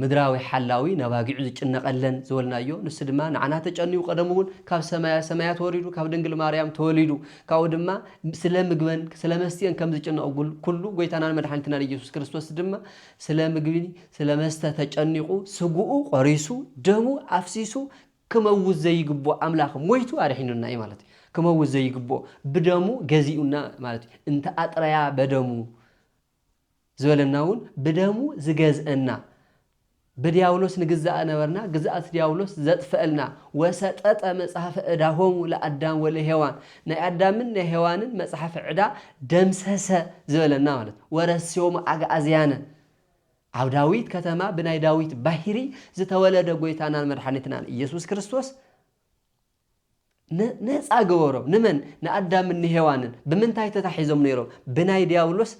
ምድራዊ ሓላዊ ነባጊዑ ዝጭነቐለን ዝበልናዮ ንሱ ድማ ንዓና ተጨንዩ ቀደሙ እውን ካብ ሰማያ ሰማያት ወሪዱ ካብ ድንግል ማርያም ተወሊዱ ካብኡ ድማ ስለ ምግበን ስለ መስትየን ከም ዝጭነቕ ኩሉ ጎይታናን መድሓኒትናን ኢየሱስ ክርስቶስ ድማ ስለ ምግቢ ስለ መስተ ተጨኒቑ ስግኡ ቆሪሱ ደሙ ኣፍሲሱ ክመውት ዘይግብኦ ኣምላኽ ሞይቱ ኣድሒኑና እዩ ማለት እዩ ክመውት ዘይግብኦ ብደሙ ገዚኡና ማለት እዩ እንተ ኣጥረያ በደሙ ዝበለና እውን ብደሙ ዝገዝእና ብድያብሎስ ንግዛእ ነበርና ግዝኣት ድያብሎስ ዘጥፈእልና ወሰጠጠ መጽሐፈ እዳሆሙ ለኣዳም ወለሔዋን ናይ ኣዳምን ናይ ሔዋንን መጽሐፍ ዕዳ ደምሰሰ ዝበለና ማለት ወረስዮሙ ኣግኣዝያነ ኣብ ዳዊት ከተማ ብናይ ዳዊት ባሂሪ ዝተወለደ ጎይታናን መድሓኒትናን ኢየሱስ ክርስቶስ ነጻ ገበሮም። ንመን? ንኣዳምን ንሄዋንን። ብምንታይ ተታሒዞም ነይሮም? ብናይ ድያብሎስ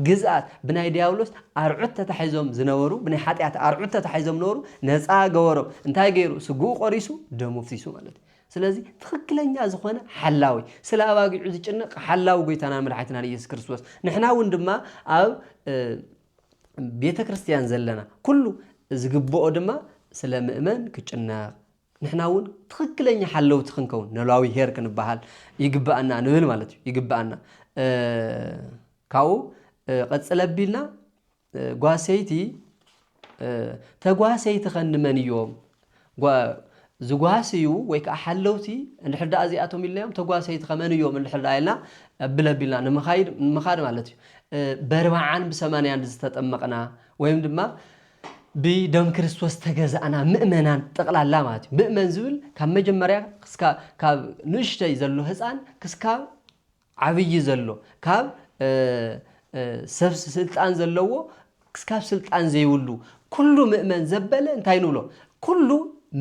ግዝኣት፣ ብናይ ድያብሎስ ኣርዑት ተታሒዞም ዝነበሩ፣ ብናይ ሓጢኣት ኣርዑት ተታሒዞም ነበሩ፣ ነጻ ገበሮም። እንታይ ገይሩ? ስግኡ ቆሪሱ፣ ደሙ ኣፍሲሱ ማለት እዩ። ስለዚ ትኽክለኛ ዝኾነ ሓላዊ፣ ስለ ኣባጊዑ ዝጭነቕ ሓላዊ ጎይታናን መድሓኒትናን ኢየሱስ ክርስቶስ። ንሕና እውን ድማ ኣብ ቤተ ክርስቲያን ዘለና ኩሉ ዝግብኦ ድማ ስለ ምእመን ክጭነቕ ንሕና እውን ትኽክለኛ ሓለውቲ ክንከውን ኖላዊ ሄር ክንበሃል ይግበኣና ንብል ማለት እዩ ይግበኣና ካብኡ ቐፅል ኣቢልና ጓሰይቲ ተጓሰይቲ ከ ንመን እዮም ዝጓስዩ ወይ ከዓ ሓለውቲ እንድሕር ደኣ እዚኣቶም ኢልናዮም ተጓሰይቲ ከመን እዮም እንድሕር ደኣ ኢልና ኣብል ኣቢልና ንምኻድ ማለት እዩ በርባዓን ብሰማንያን ዝተጠመቕና ወይም ድማ ብደም ክርስቶስ ዝተገዛእና ምእመናን ጠቕላላ ማለት እዩ። ምእመን ዝብል ካብ መጀመርያ ካብ ንእሽተይ ዘሎ ህፃን ክስካብ ዓብዪ ዘሎ ካብ ሰብ ስልጣን ዘለዎ ክስካብ ስልጣን ዘይብሉ ኩሉ ምእመን ዘበለ እንታይ ንብሎ ኩሉ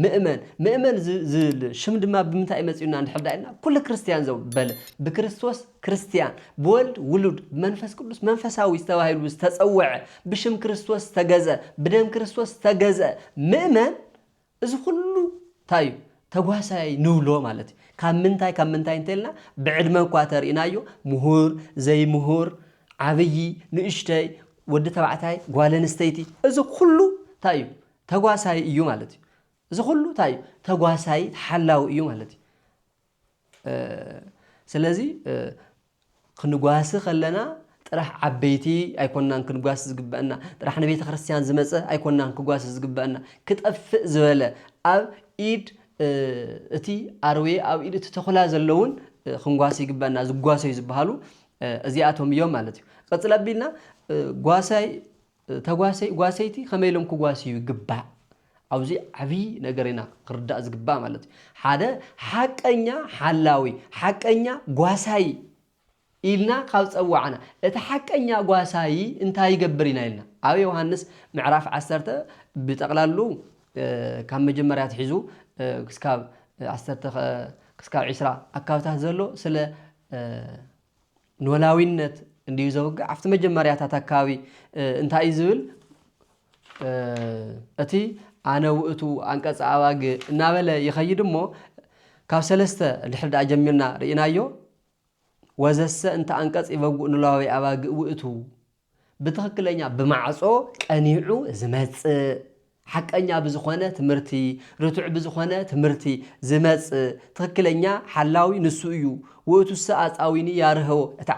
ምእመን ምእመን ዝብል ሽም ድማ ብምንታይ መፂኡና እንድሕር ዳኢልና ኩሉ ክርስትያን ዘበለ ብክርስቶስ ክርስትያን፣ ብወልድ ውሉድ፣ ብመንፈስ ቅዱስ መንፈሳዊ ዝተባሂሉ ዝተጸውዐ፣ ብሽም ክርስቶስ ዝተገዝአ፣ ብደም ክርስቶስ ዝተገዝአ ምእመን እዚ ኩሉ እንታይ እዩ ተጓሳያይ ንብሎ ማለት እዩ። ካብ ምንታይ ካብ ምንታይ እንተልና ብዕድመ እኳ ተርኢናዮ ምሁር፣ ዘይምሁር፣ ዓብዪ፣ ንእሽተይ፣ ወዲ ተባዕታይ፣ ጓል ኣንስተይቲ እዚ ኩሉ እንታይ እዩ ተጓሳይ እዩ ማለት እዩ። እዚ ኩሉ እንታይ እዩ ተጓሳይ ሓላዊ እዩ ማለት እዩ። ስለዚ ክንጓሲ ከለና ጥራሕ ዓበይቲ ኣይኮናን ክንጓሲ ዝግበእና ጥራሕ ንቤተክርስትያን ዝመጸ ኣይኮናን ክጓሲ ዝግበእና ክጠፍእ ዝበለ ኣብ ኢድ እቲ ኣርዌ ኣብ ኢድ እቲ ተኹላ ዘለውን ክንጓሲ ይግበእና ዝጓሰዩ ዝበሃሉ እዚኣቶም እዮም ማለት እዩ። ቐጽል ኣቢልና ጓሳይ ተጓሰይ ጓሰይቲ ከመይ ኢሎም ክጓስዩ ይግባእ ኣውዚ ዓብይ ነገር ኢና ክርዳእ ዝግባእ ማለት እዩ ሓደ ሓቀኛ ሓላዊ ሓቀኛ ጓሳይ ኢልና ካብ ፀዋዕና እቲ ሓቀኛ ጓሳይ እንታይ ይገብር ኢና ኢልና ኣብ ዮሃንስ ምዕራፍ ዓሰርተ ብጠቕላሉ ካብ መጀመርያ ትሒዙ ክስካብ ዓሰርተ ክስካብ ዒስራ ኣካብታት ዘሎ ስለ ኖላዊነት እንድዩ ዘውግዕ ኣብቲ መጀመርያታት ኣከባቢ እንታይ እዩ ዝብል እቲ ኣነ ውእቱ ኣንቀጸ ኣባግ እናበለ ይኸይድ እሞ ካብ ሰለስተ ድሕሪ ድኣ ጀሚርና ርኢናዮ ወዘሰ እንተ ኣንቀጽ ይበጉእ ኖላዊ ኣባግ ውእቱ ብትኽክለኛ ብማዕፆ ቀኒዑ ዝመፅእ፣ ሓቀኛ ብዝኾነ ትምህርቲ፣ ርቱዕ ብዝኾነ ትምህርቲ ዝመፅእ ትኽክለኛ ሓላዊ ንሱ እዩ። ውእቱሰ ኣፃዊኒ ያርህው፣ እቲ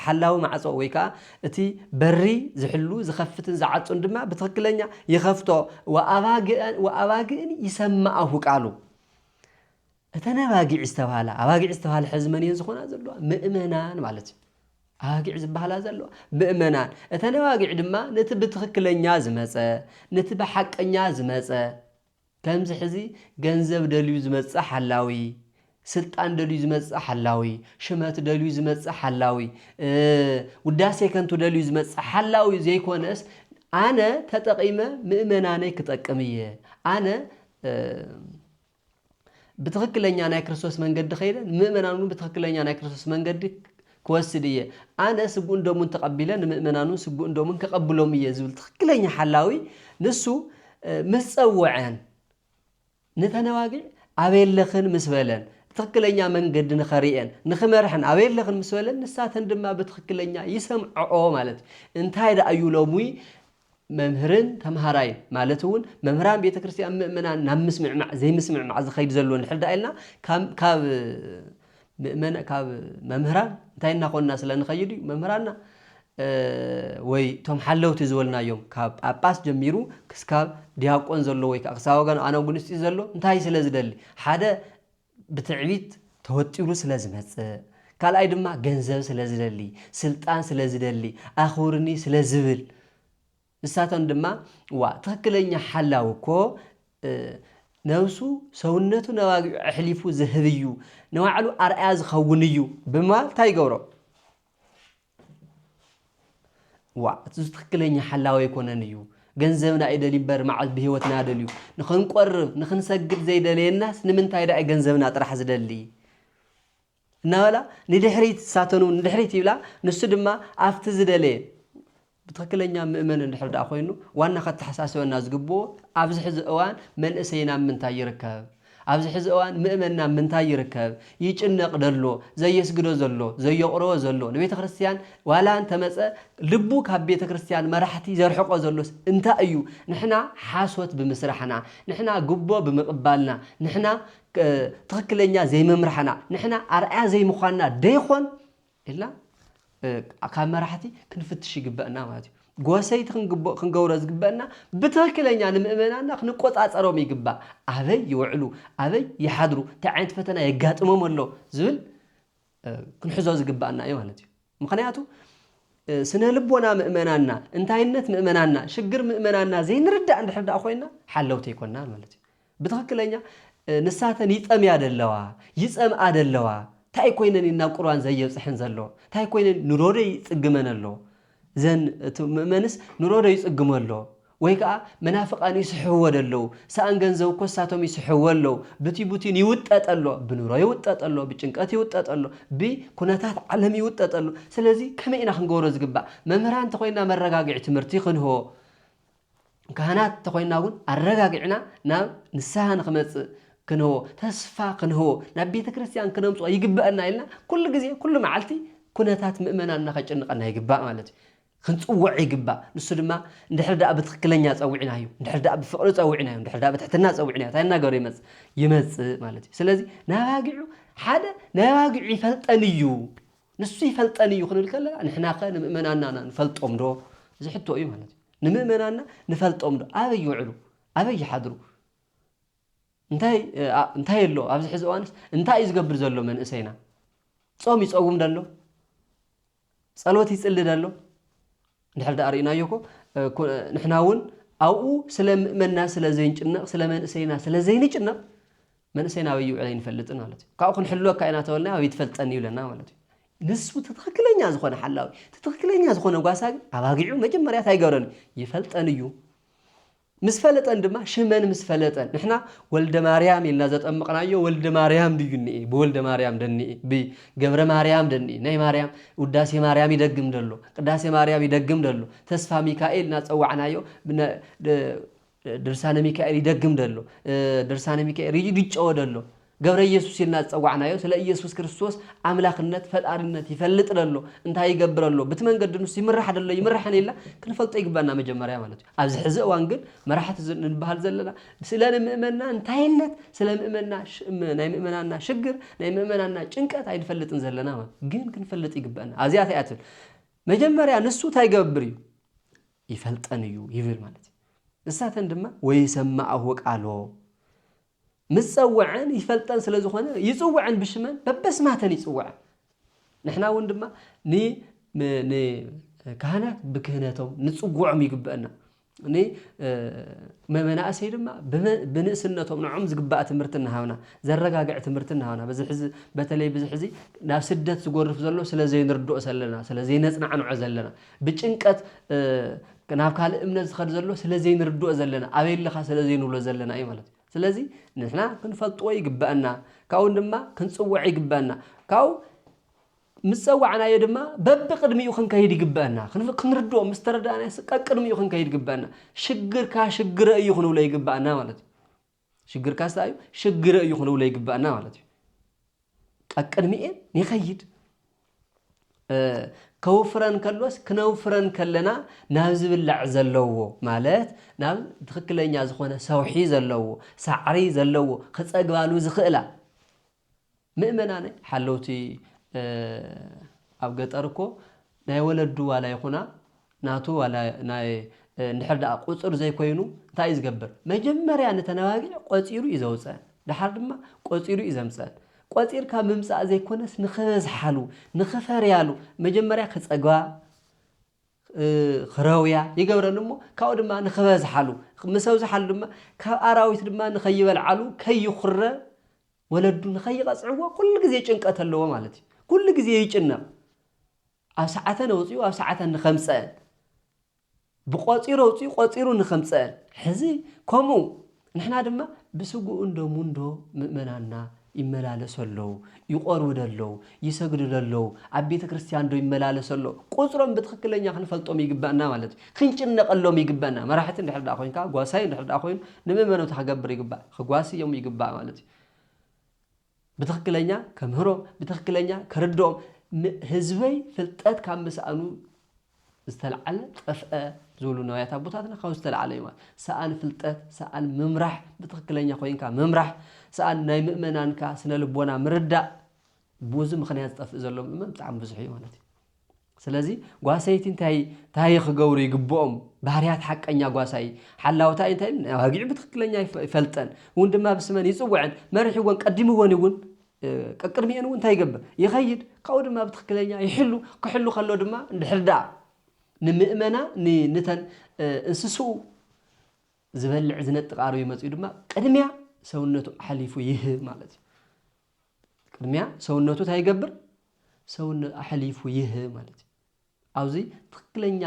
ሓላዊ ማዕፆ ወይ ከዓ እቲ በሪ ዝሕሉ ዝኸፍትን ዝዓፁን ድማ ብትኽክለኛ ይኸፍቶ። ወኣባግእን ይሰማኣሁ ቃሉ። እተን ኣባጊዕ ዝተብሃላ፣ ኣባጊዕ ዝተብሃላ ሕዚ መን እየን ዝኾና ዘለዋ? ምእመናን ማለት እዩ። ኣባጊዕ ዝበሃላ ዘለዋ ምእመናን፣ እተን ኣባጊዕ ድማ ነቲ ብትኽክለኛ ዝመፀ፣ ነቲ ብሓቀኛ ዝመፀ፣ ከምዚ ሕዚ ገንዘብ ደልዩ ዝመፅእ ሓላዊ፣ ስልጣን ደልዩ ዝመፅእ ሓላዊ፣ ሽመት ደልዩ ዝመፅእ ሓላዊ፣ ውዳሴ ከንቱ ደልዩ ዝመፅእ ሓላዊ ዘይኮነስ ኣነ ተጠቒመ ምእመናነይ ክጠቅም እየ ኣነ ብትኽክለኛ ናይ ክርስቶስ መንገዲ ከይደ ንምእመናን እውን ብትኽክለኛ ናይ ክርስቶስ መንገዲ ክወስድ እየ፣ ኣነ ስግኡን ደሙን ተቐቢለ ንምእመናኑ ስግኡን ደሙን ከቐብሎም እየ ዝብል ትኽክለኛ ሓላዊ ንሱ ምስ ጸወዐን ንተነዋጊዕ ኣበየለኽን ምስ በለን ትኽክለኛ መንገዲ ንኸርእየን ንኽመርሐን ኣበየለኽን ምስ በለን ንሳተን ድማ ብትኽክለኛ ይሰምዐኦ ማለት እዩ እንታይ ደኣ እዩ ሎሚ መምህርን ተምሃራይን ማለት እውን መምህራን ቤተ ክርስቲያን ምእመናን ናብ ምስምዕማዕ ዘይምስምዕማዕ ዝኸይድ ዘሎ እንድሕር ደኣ ኢልና ካብ ምእመና ካብ መምህራን እንታይ እናኾንና ስለ ንኸይድ እዩ መምህራንና ወይ እቶም ሓለውቲ ዝበልናዮም ካብ ጳጳስ ጀሚሩ ክስካብ ዲያቆን ዘሎ ወይ ከዓ ክሳብ ኣነ ኣጉንስጢ ዘሎ እንታይ ስለ ዝደሊ ሓደ ብትዕቢት ተወጢሩ ስለ ዝመጽእ፣ ካልኣይ ድማ ገንዘብ ስለ ዝደሊ፣ ስልጣን ስለ ዝደሊ፣ ኣኽብሩኒ ስለ ዝብል፣ ንሳቶም ድማ ዋእ ትኽክለኛ ሓላዊ እኮ ነብሱ ሰውነቱ ነባጊዑ ኣሕሊፉ ዝህብ እዩ፣ ንባዕሉ ኣርኣያ ዝኸውን እዩ ብምባል እንታይ ይገብሮ? ዋእ እቱስ ትክክለኛ ሓላዊ ኣይኮነን እዩ ገንዘብና እዩ ደልዩ እምበር ማዓዝ ብሂወትና ደልዩ ንክንቆርብ ንክንሰግድ ዘይደለየናስ ንምንታይ ዳኣ እዩ ገንዘብና ጥራሕ ዝደሊ እናበላ ንድሕሪት ንሳተን እውን ንድሕሪት ይብላ ንሱ ድማ ኣብቲ ዝደለየ ብትክክለኛ ምእመን እንድሕር ዳኣ ኮይኑ ዋና ከተሓሳስበና ዝግብኦ ኣብዚ ሕዚ እዋን መንእሰይና ኣብ ምንታይ ይርከብ ኣብዚ ሕዚ እዋን ምእመን ናብ ምንታይ ይርከብ? ይጭነቅ ደሎ፣ ዘየስግዶ ዘሎ፣ ዘየቁረቦ ዘሎ፣ ንቤተ ክርስቲያን ዋላ እንተመጸ ልቡ ካብ ቤተ ክርስቲያን መራሕቲ ዘርሕቆ ዘሎስ እንታይ እዩ? ንሕና ሓሶት ብምስራሕና፣ ንሕና ጉቦ ብምቅባልና፣ ንሕና ትኽክለኛ ዘይምምራሕና፣ ንሕና ኣርኣያ ዘይምዃንና ደይኾን? ኢልና ካብ መራሕቲ ክንፍትሽ ይግበእና ማለት እዩ። ጎሰይቲ ክንግቦ ክንገብሮ ዝግበእና ብትኽክለኛ ንምእመናና ክንቆጻጸሮም ይግባእ። ኣበይ ይውዕሉ፣ ኣበይ ይሓድሩ፣ እንታይ ዓይነት ፈተና የጋጥሞም ኣሎ ዝብል ክንሕዞ ዝግባእና እዩ ማለት እዩ። ምክንያቱ ስነ ልቦና ምእመናና፣ እንታይነት ምእመናና፣ ሽግር ምእመናና ዘይንርዳእ እንድሕር ደኣ ኮይና ሓለውቲ ኣይኮናን ማለት እዩ። ብትኽክለኛ ንሳተን ይጠምያ ደለዋ ይጸምኣ ደለዋ ታይ ኮይነን እየን ናብ ቁርባን ዘየብጽሐን ዘሎ ታይ ኮይነን ንሮ ዶ ይጽግመን ኣሎ ዘን እቲ ምእመንስ ንሮ ዶ ይጽግሞ ኣሎ ወይ ከኣ መናፍቃን ይስሕብዎ ደለዉ ሰኣን ገንዘብ እኮ ንሳቶም ይስሕብዎ ኣለዉ ብቲ ቡቲን ይውጠጥ ኣሎ ብንሮ ይውጠጥ ኣሎ ብጭንቀት ይውጠጥ ኣሎ ብ ኩነታት ዓለም ይውጠጥ ኣሎ ስለዚ ከመይ ኢና ክንገብሮ ዝግባእ መምህራን ተኾይንና መረጋግዒ ትምህርቲ ክንህቦ ካህናት እንተኾይንና እውን ኣረጋጊዕና ናብ ንስሃ ንክመፅእ ክንህቦ፣ ተስፋ ክንህቦ፣ ናብ ቤተ ክርስቲያን ክነምፅኦ ይግበእና ኢልና ኩሉ ግዜ ኩሉ መዓልቲ ኩነታት ምእመናንና ከጨንቐና ይግባእ ማለት እዩ። ክንፅውዕ ይግባእ። ንሱ ድማ እንድሕር ደኣ ብትኽክለኛ ፀዊዕናዮ፣ እንድሕር ደኣ ብፍቕሪ ፀዊዕናዮ፣ እንድሕር ደኣ ብትሕትና ፀዊዕናዮ እንታይ እናገበረ ይመፅእ? ይመፅእ ማለት እዩ። ስለዚ ንኣባጊዑ ሓደ ናይ ኣባጊዑ ይፈልጠን እዩ። ንሱ ይፈልጠን እዩ ክንብል ከለና ንሕናኸ ንምእመናንና ንፈልጦም ዶ? እዚ ሕቶ እዩ ማለት እዩ። ንምእመናንና ንፈልጦም ዶ? ኣበይ ይውዕሉ? ኣበይ ይሓድሩ? እንታይ እንታይ ኣሎ? ኣብዚ ሕዚ እዋንስ እንታይ እዩ ዝገብር ዘሎ መንእሰይና? ጾም ይጸውም ደሎ? ጸሎት ይጽሊ ደሎ? እንድሕር ደኣ ርኢናዮ እኮ ንሕና እውን ኣብኡ ስለ ምእመና ስለ ዘይንጭነቕ ስለ መንእሰይና ስለ ዘይንጭነቕ መንእሰይና ኣበይ ይውዕል ኣይንፈልጥን ማለት እዩ ካብኡ ክንሕልወካ ኢና ተበልና ኣበይ ትፈልጠኒ ይብለና ማለት እዩ ንሱ እቲ ትኽክለኛ ዝኾነ ሓላዊ እቲ ትኽክለኛ ዝኾነ ጓሳ ግን ኣባጊዑ መጀመርያ እንታይ ይገብረኒ ይፈልጠን እዩ ምስ ፈለጠን ድማ ሽመን ምስ ፈለጠን ንሕና ወልደማርያም ኢልና ዘጠምቕናዮ ወልደማርያም ድዩ እኒኤ ብወልደማርያም ደኒኤ ብገብረማርያም ደኒኤ ናይ ማርያም ውዳሴ ማርያም ይደግም ደሎ ቅዳሴ ማርያም ይደግም ደሎ ተስፋሚካኤል ናፀዋዕናዮ ድርሳነ ሚካኤል ይደግም ደሎ ድርሳነ ሚካኤል ይጨወ ደሎ ገብረየሱስ ኢልና ዝጸዋዕናዮ ስለ ኢየሱስ ክርስቶስ ኣምላኽነት፣ ፈጣሪነት፣ ይፈልጥ ደሎ፣ እንታይ ይገብር ኣሎ፣ ብቲ መንገዲ ንሱ ይምራሕ ደሎ ኣይምርሕን ኢልና ክንፈልጦ ይግበእና መጀመርያ ማለት እዩ። ኣብዚ ሕዚ እዋን ግን መራሕቲ ንንበሃል ዘለና ስለ ንምእመና እንታይነት፣ ስለ ምእመና ናይ ምእመናና ሽግር፣ ናይ ምእመናና ጭንቀት ኣይንፈልጥን ዘለና ማለት እዩ። ግን ክንፈልጥ ይግበእና። ኣዚኣታ እያ ትብል መጀመርያ ንሱ እንታይ ይገብር እዩ ይፈልጠን እዩ ይብል ማለት እዩ። ንሳተን ድማ ወይሰማዕሁ ቃሎ ምስ ጸወዐን ይፈልጠን ስለ ዝኾነ ይጽወዐን ብሽመን በበስማተን ይጽወዐን ንሕና እውን ድማ ንካህናት ብክህነቶም ንጽጉዖም ይግበአና ንመመናእሰይ ድማ ብንእስነቶም ንዖም ዝግባእ ትምህርቲ እናሃብና ዘረጋግዕ ትምህርቲ እናሃብና በዚ ሕዚ በተለይ ብዚ ሕዚ ናብ ስደት ዝጎርፍ ዘሎ ስለ ዘይንርድኦ ሰለና ስለ ዘይነጽናዕንዖ ዘለና ብጭንቀት ናብ ካልእ እምነት ዝኸድ ዘሎ ስለ ዘይንርድኦ ዘለና፣ ኣበይ ኣለኻ ስለ ዘይንብሎ ዘለና እዩ ማለት እዩ። ስለዚ ንሕና ክንፈልጥዎ ይግበኣና፣ ካብኡ ድማ ክንጽውዕ ይግበኣና። ካብኡ ምስ ጸዋዕናዮ ድማ በብቕድሚኡ ክንከይድ ይግበኣና። ክንፍ ክንርድኦ ምስ ተረዳእናዮስ ቀቅድሚኡ ክንከይድ ይግበኣና። ሽግርካ ሽግረ እዩ ክንብሎ ይግበኣና ማለት እዩ። ሽግርካስ ታይ እዩ ሽግረ እዩ ክንብሎ ይግባእና ማለት እዩ ቀቅድሚኤ ይኸይድ ከውፍረን ከሎስ ክነውፍረን ከለና ናብ ዝብላዕ ዘለዎ ማለት ናብ ትክክለኛ ዝኾነ ሰውሒ ዘለዎ ሳዕሪ ዘለዎ ክፀግባሉ ዝኽእላ ምእመናነ ሓለውቲ ኣብ ገጠር እኮ ናይ ወለዱ ዋላ ይኹና ናቱ ዋላ ናይ እንድሕር ደኣ ቁጽር ዘይኮይኑ እንታይ እዩ ዝገብር መጀመርያ ንተነባጊዕ ቆጺሩ እዩ ዘውጸን ደሓር ድማ ቆጺሩ እዩ ዘምጸን ቆጺርካ ምምጻእ ዘይኮነስ ንኽበዝሓሉ ንኽፈርያሉ መጀመርያ ክጸግባ ክረውያ ይገብረን እሞ ካብኡ ድማ ንኽበዝሓሉ ምስ ኣብዝሓሉ ድማ ካብ ኣራዊት ድማ ንኸይበልዓሉ ከይኹረ ወለዱ ንኸይቐጽዕዎ ኩሉ ግዜ ጭንቀት ኣለዎ ማለት እዩ። ኩሉ ግዜ ይጭነቕ። ኣብ ሰዓተን ኣውጺኡ ኣብ ሰዓተን ንኸምጸአን፣ ብቆጺሩ ኣውጺኡ ቆጺሩ ንኸምጸአን፣ ሕዚ ከምኡ ንሕና ድማ ብስግኡን ደሙን ዶ ምእመናንና ይመላለሱ ኣለዉ፣ ይቖርብዶ ኣለዉ፣ ይሰግድዶ ኣለዉ፣ ኣብ ቤተ ክርስቲያን ዶ ይመላለሱ ኣለዉ፣ ቁጽሮም ብትኽክለኛ ክንፈልጦም ይግበእና ማለት እዩ። ክንጭነቐሎም ይግበእና። መራሕቲ እንድሕር ደኣ ኮይንካ፣ ጓሳይ እንድሕር ደኣ ኮይኑ፣ ንመመነቱ ከገብር ይግባእ። ክጓስዮም ይግባእ ማለት እዩ። ብትኽክለኛ ከምህሮም፣ ብትኽክለኛ ከርድኦም፣ ን ህዝበይ ፍልጠት ካብ ምስኣኑ ዝተልዓለ ጠፍአ ዝብሉ ነዋያት ኣቦታትና ካብኡ ዝተልዓለ እዩ ማለት ሰኣን ፍልጠት፣ ሰኣን ምምራሕ፣ ብትኽክለኛ ኮይንካ ምምራሕ፣ ሰኣን ናይ ምእመናንካ ስነ ልቦና ምርዳእ፣ ብኡዚ ምኽንያት ዝጠፍእ ዘሎ ምእመን ብጣዕሚ ብዙሕ እዩ ማለት እዩ። ስለዚ ጓሰይቲ እንታይ ታይ ክገብሩ ይግብኦም ባህርያት ሓቀኛ ጓሳይ ሓላውታይ እንታይ ኢዩ ኣባጊዑ ብትክክለኛ ይፈልጠን እውን ድማ ብስመን ይጽውዐን መሪሕወን ቀዲምወን እውን ቀቅድሚኤን እውን እንታይ ይገብር ይኸይድ ካብኡ ድማ ብትክክለኛ ይሕሉ ክሕሉ ከሎ ድማ እንድሕር ደኣ ንምእመና ንተን እንስስኡ ዝበልዕ ዝነጥቅ ኣርዩ መጽኡ ድማ ቅድሚያ ሰውነቱ ኣሕሊፉ ይህብ ማለት እዩ ቅድሚያ ሰውነቱ እንታይ ይገብር? ሰውነ ኣሕሊፉ ይህብ ማለት እዩ። ኣብዚ ትክክለኛ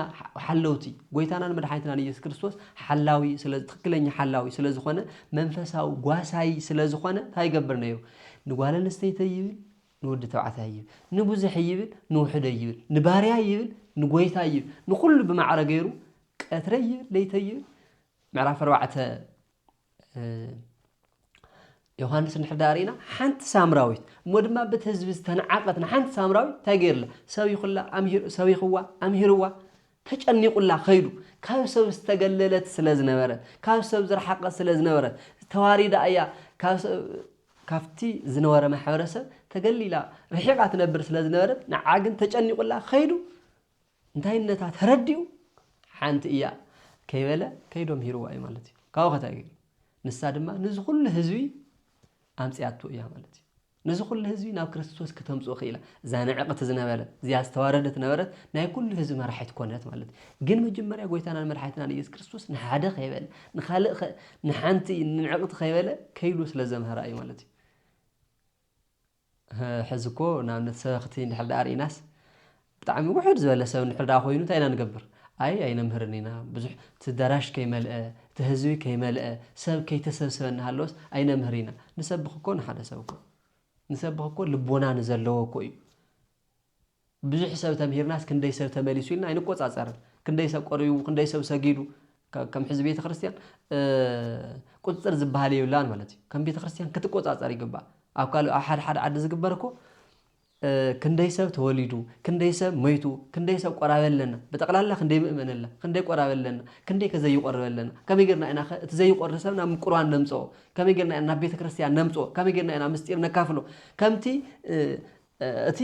ሓለውቲ ጎይታናን መድሓኒትናን ኢየሱስ ክርስቶስ ሓላዊ ስለ ትክክለኛ ሓላዊ ስለ ዝኾነ መንፈሳዊ ጓሳይ ስለ ዝኾነ እንታይ ይገብር ነይሩ? ንጓል ኣንስተይቲ ይብል ንወዲ ተባዕታይ ይብል ንብዙሕ ይብል ንውሕደ ይብል ንባርያ ይብል ንጎይታ ይብል ንኹሉ ብማዕረ ገይሩ ቀትረ ይብል ለይተ ይብል ምዕራፍ ኣርባዕተ ዮሃንስ እንድሕር ደኣ ርኢና ሓንቲ ሳምራዊት እሞ ድማ በቲ ህዝቢ ዝተነዓቐት ንሓንቲ ሳምራዊት እንታይ ገይርላ ሰቢኹላ ሰቢኽዋ ኣምሂርዋ ተጨኒቑላ ከይዱ ካብ ሰብ ዝተገለለት ስለ ዝነበረት ካብ ሰብ ዝረሓቐት ስለ ዝነበረት ተዋሪዳ እያ ካብቲ ዝነበረ ማሕበረሰብ ተገሊላ ርሒቓ ትነብር ስለ ዝነበረት ንዓ ግን ተጨኒቑላ ከይዱ እንታይነታ ተረዲኡ ሓንቲ እያ ከይበለ ከይዱ ኣምሂርዋ እዩ ማለት እዩ ካብኡ ከታይ ገይሩ ንሳ ድማ ንዚ ኩሉ ህዝቢ ኣምፅኣቶ እያ ማለት እዩ ነዚ ኩሉ ህዝቢ ናብ ክርስቶስ ክተምፅኡ ክኢላ እዛ ንዕቕቲ ዝነበረት እዚኣ ዝተዋረደት ነበረት ናይ ኩሉ ህዝቢ መራሒት ኮነት ማለት እዩ ግን መጀመርያ ጎይታናን መድሓኒትናን ኢየሱስ ክርስቶስ ንሓደ ከይበለ ንካልእ ንሓንቲ ንዕቕቲ ከይበለ ከይሉ ስለ ዘምሃራ እዩ ማለት እዩ ሕዚ እኮ ንኣብነት ሰበኽቲ እንድሕር ደኣ ርኢናስ ብጣዕሚ ውሕድ ዝበለ ሰብ እንድሕር ደኣ ኮይኑ እንታይ ኢና ንገብር? ኣይ ኣይነምህርን ኢና፣ ብዙሕ እቲ ኣዳራሽ ከይመልአ፣ እቲ ህዝቢ ከይመልአ፣ ሰብ ከይተሰብስበ እናሃለወስ ኣይነምህር ኢና፣ ንሰብኽ እኮ ንሓደ ሰብ እኮ ንሰብኽ እኮ ልቦና ንዘለዎ እኮ እዩ። ብዙሕ ሰብ ተምሂርናስ ክንደይ ሰብ ተመሊሱ ኢልና ኣይንቆጻጸርን ክንደይ ሰብ ቆሪቡ ክንደይ ሰብ ሰጊዱ ከም ሕዚ ቤተክርስትያን ቁጽጽር ዝበሃል የብላን ማለት እዩ ከም ቤተክርስትያን ክትቆጻጸር ይግባእ ኣብ ካልእ ኣብ ሓደ ሓደ ዓዲ ዝግበር እኮ ክንደይ ሰብ ተወሊዱ ክንደይ ሰብ መይቱ ክንደይ ሰብ ቆራበ ኣለና ብጠቕላላ ክንደይ ምእመን ኣላ ክንደይ ቆራበ ኣለና ክንደይ ከ ዘይቆርበ ኣለና ከመይ ጌርና ኢና ከ እቲ ዘይቆሪ ሰብ ናብ ቁርባን ነምጽኦ ከመይ ጌርና ኢና ናብ ቤተክርስትያን ነምጽኦ ከመይ ጌርና ኢና ምስጢር ነካፍሎ ከምቲ እቲ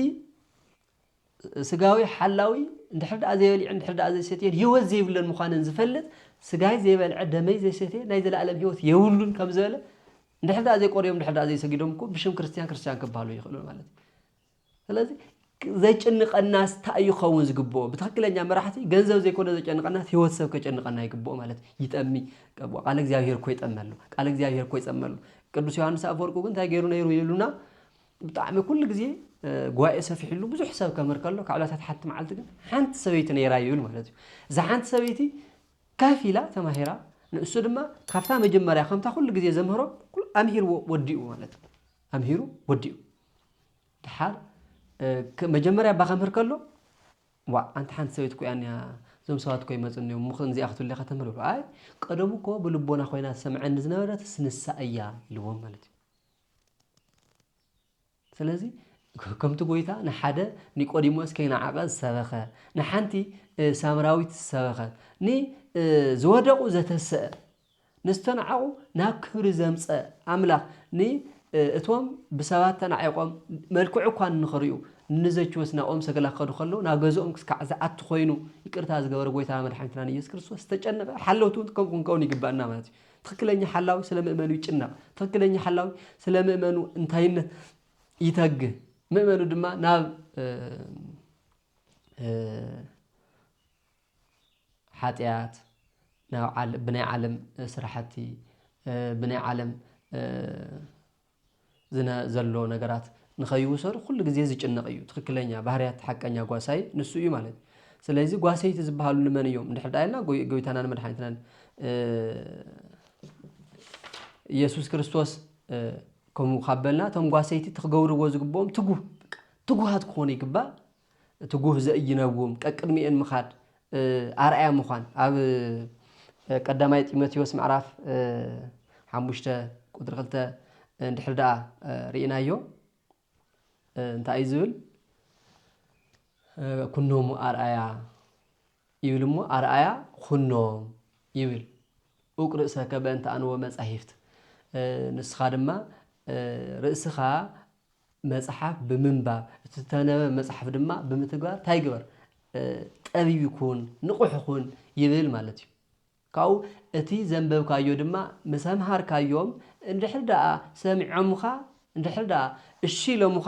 ስጋዊ ሓላዊ እንድሕር ደኣ ዘይበሊዑን እንድሕር ደኣ ዘይሰትየን ህይወት ዘይብለን ምዃነን ዝፈልጥ ስጋይ ዘይበልዐ ደመይ ዘይሰትየ ናይ ዘለኣለም ህይወት የብሉን ከም ዝበለ እንድሕር ደኣ ዘይቆርዮም እንድሕር ደኣ ዘይሰጊዶም እኮ ብሽም ክርስትያን ክርስትያን ክበሃሉ ይኽእሉን ማለት እዩ ስለዚ ዘጭንቐናስ እንታይ እዩ ክኸውን ዝግብኦ ብትክክለኛ መራሕቲ ገንዘብ ዘይኮነ ዘጨንቐናስ ህይወት ሰብ ከጨንቐና ይግብኦ ማለት ይጠሚ ቃል እግዚኣብሄር እኮ ይጠመሉ ቃል እግዚኣብሄር እኮ ይፀመሉ ቅዱስ ዮሃንስ ኣፈወርቁ ግን እንታይ ገይሩ ነይሩ ይብሉና ብጣዕሚ ኩሉ ግዜ ጉባኤ ሰፊሕሉ ብዙሕ ሰብ ከምር ከሎ ካብ ዕለታት ሓንቲ መዓልቲ ግን ሓንቲ ሰበይቲ ነይራ ይብል ማለት እዩ እዛ ሓንቲ ሰበይቲ ከፍ ኢላ ተማሂራ ንእሱ ድማ ካብታ መጀመርያ ከምታ ኩሉ ግዜ ዘምህሮ ኣምሂርዎ ወዲኡ ማለት እዩ ኣምሂሩ ወዲኡ ድሓር መጀመርያ እባ ከምህር ከሎ ዋ ኣንቲ ሓንቲ ሰበይቲ ኮያ እኒኣ እዞም ሰባት ኮ ይመፁ እኒኦም ምኽ እዚኣ ክትብለ ከተምህር ብሎ ኣይ ቀደሙ እኮ ብልቦና ኮይና ትሰምዐኒ ዝነበረት ስንሳ እያ ኢልዎም ማለት እዩ ስለዚ ከምቲ ጐይታ ንሓደ ኒቆዲሞስ ከይነዓቐ ዝሰበኸ፣ ንሓንቲ ሳምራዊት ዝሰበኸ፣ ንዝወደቑ ዘተሰአ፣ ንዝተናዕቑ ናብ ክብሪ ዘምፀ ኣምላኽ ንእቶም ብሰባት ተናዒቖም መልክዑ እኳ ንኽርእዩ ንዘችወስ ናብኦም ሰገላ ክኸዱ ከለዉ ናብ ገዝኦም ክስካዕ ዝኣቱ ኮይኑ ይቅርታ ዝገበረ ጐይታና መድሓኒትናን ኢየሱስ ክርስቶስ ዝተጨነቐ ሓለውቲ እውን ከምኡ ክንከውን ይግባእና ማለት እዩ። ትኽክለኛ ሓላዊ ስለ ምእመኑ ይጭነቕ፣ ትኽክለኛ ሓላዊ ስለ ምእመኑ እንታይነት ይተግ፣ ምእመኑ ድማ ናብ ሓጢኣት ብናይ ዓለም ስራሕቲ ብናይ ዓለም ዝነ ዘሎ ነገራት ንኸይውሰዱ ኩሉ ግዜ ዝጭነቕ እዩ ትኽክለኛ ባህርያት ሓቀኛ ጓሳይ ንሱ እዩ ማለት እዩ ስለዚ ጓሰይቲ ዝበሃሉ ንመን እዮም እንድሕር ዳኣ ኢልና ጎይታናን መድሓኒትናን ኢየሱስ ክርስቶስ ከምኡ ካብ በልና እቶም ጓሰይቲ እቲ ክገብርዎ ዝግብኦም ትጉህ ትጉሃት ክኾኑ ይግባእ እቲ ጉህ ዘኢይነውም ቀቅድሚኤን ምኻድ ኣርኣያ ምዃን ኣብ ቀዳማይ ጢሞቴዎስ ምዕራፍ ሓሙሽተ ቁፅሪ ክልተ እንድሕር ደኣ ርኢናዮ እንታይ እዩ ዝብል ኩኖሙ ኣርኣያ ይብል እሞ ኣርኣያ ኩኖም ይብል ኡቅ ርእሰከ በእንተ ኣንወ መጻሂፍት ንስኻ ድማ ርእስኻ መጽሓፍ ብምንባብ፣ እቲ ዝተነበበ መጽሓፍ ድማ ብምትግባር ታይ ግበር? ጠቢብ ኩን፣ ንቑሕ ኹን ይብል ማለት እዩ። ካብኡ እቲ ዘንበብካዮ ድማ ምስ ኣምሃርካዮም እንድሕር ደኣ ሰሚዖምኻ እንድሕር ደኣ እሺ ኢሎምኻ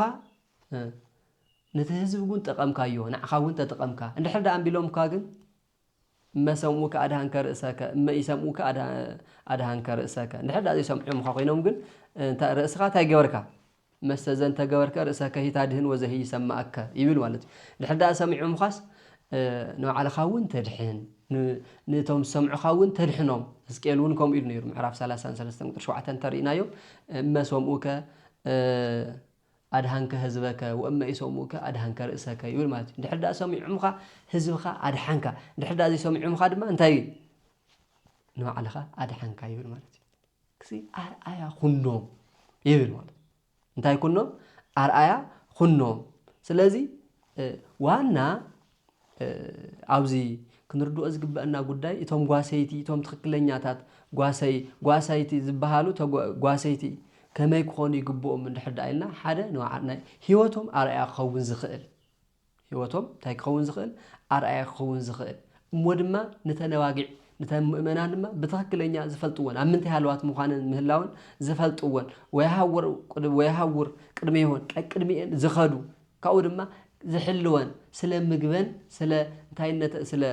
ነቲ ህዝቢ እውን ጠቐምካዮ ንዓኻ እውን ተጠቐምካ እንድሕር ደኣ እምቢ ኢሎምካ ግን እመ ሰምዑከ ኣድኀንከ ርእሰከ፣ እመ ኢሰምዑከ ኣድኀንከ ርእሰከ፣ እንድሕር ደኣ ዘይሰምዑምኻ ኮይኖም ግን ርእስኻ እንታይ ገበርካ፣ እመሰ ዘንተ ገበርከ ርእሰከሂ ታድኅን ወዘሂ ይሰምዐከ ይብል ማለት እዩ። እንድሕር ደኣ ሰሚዖምኻስ ንባዕልኻ እውን ተድኅን፣ ነቶም ዝሰምዑኻ እውን ተድኅኖም፣ ሕዝቅኤል እውን ከምኡ ኢሉ ነይሩ ምዕራፍ ሰላሳን ሰለስተን ቁጽሪ ሸውዓተን እንተ ርኢናዮ እመ ሰምዑከ፣ ኣድኃንከ ሕዝበከ ወእመ ኢሰምዑከ ኣድኃንከ ርእሰከ ይብል ማለት እዩ። እንድሕር ድኣ ሰሚዖምኻ ሕዝብኻ ኣድሓንካ፣ እንድሕር ድኣ ዘይሰሚዖምኻ ድማ እንታይ እዩ ንባዕልኻ ኣድሓንካ ይብል ማለት እዩ። ክሲ ኣርኣያ ኩኖም ይብል ማለት እንታይ ኩኖም ኣርኣያ ኩኖም። ስለዚ ዋና ኣብዚ ክንርድኦ ዝግበእና ጉዳይ እቶም ጓሰይቲ እቶም ትኽክለኛታት ጓሰይ ጓሳይቲ ዝባሃሉ ጓሰይቲ ከመይ ክኾኑ ይግብኡም እንድሕር ድኣ ኢልና ሓደ ናይ ሂወቶም ኣርኣያ ክኸውን ዝኽእል ሂወቶም እንታይ ክኸውን ዝኽእል ኣርኣያ ክኸውን ዝኽእል እሞ ድማ ንተን ኣባጊዕ ንተን ምእመናን ድማ ብትኽክለኛ ዝፈልጥወን ኣብ ምንታይ ሃለዋት ምዃነን ምህላወን ዝፈልጥወን ወይሃውር ወይሃውር ቅድሜ ይሆን ቀቅድሚኤን ዝኸዱ ካብኡ ድማ ዝሕልወን ስለ ምግበን ስለ እንታይነተ ስለ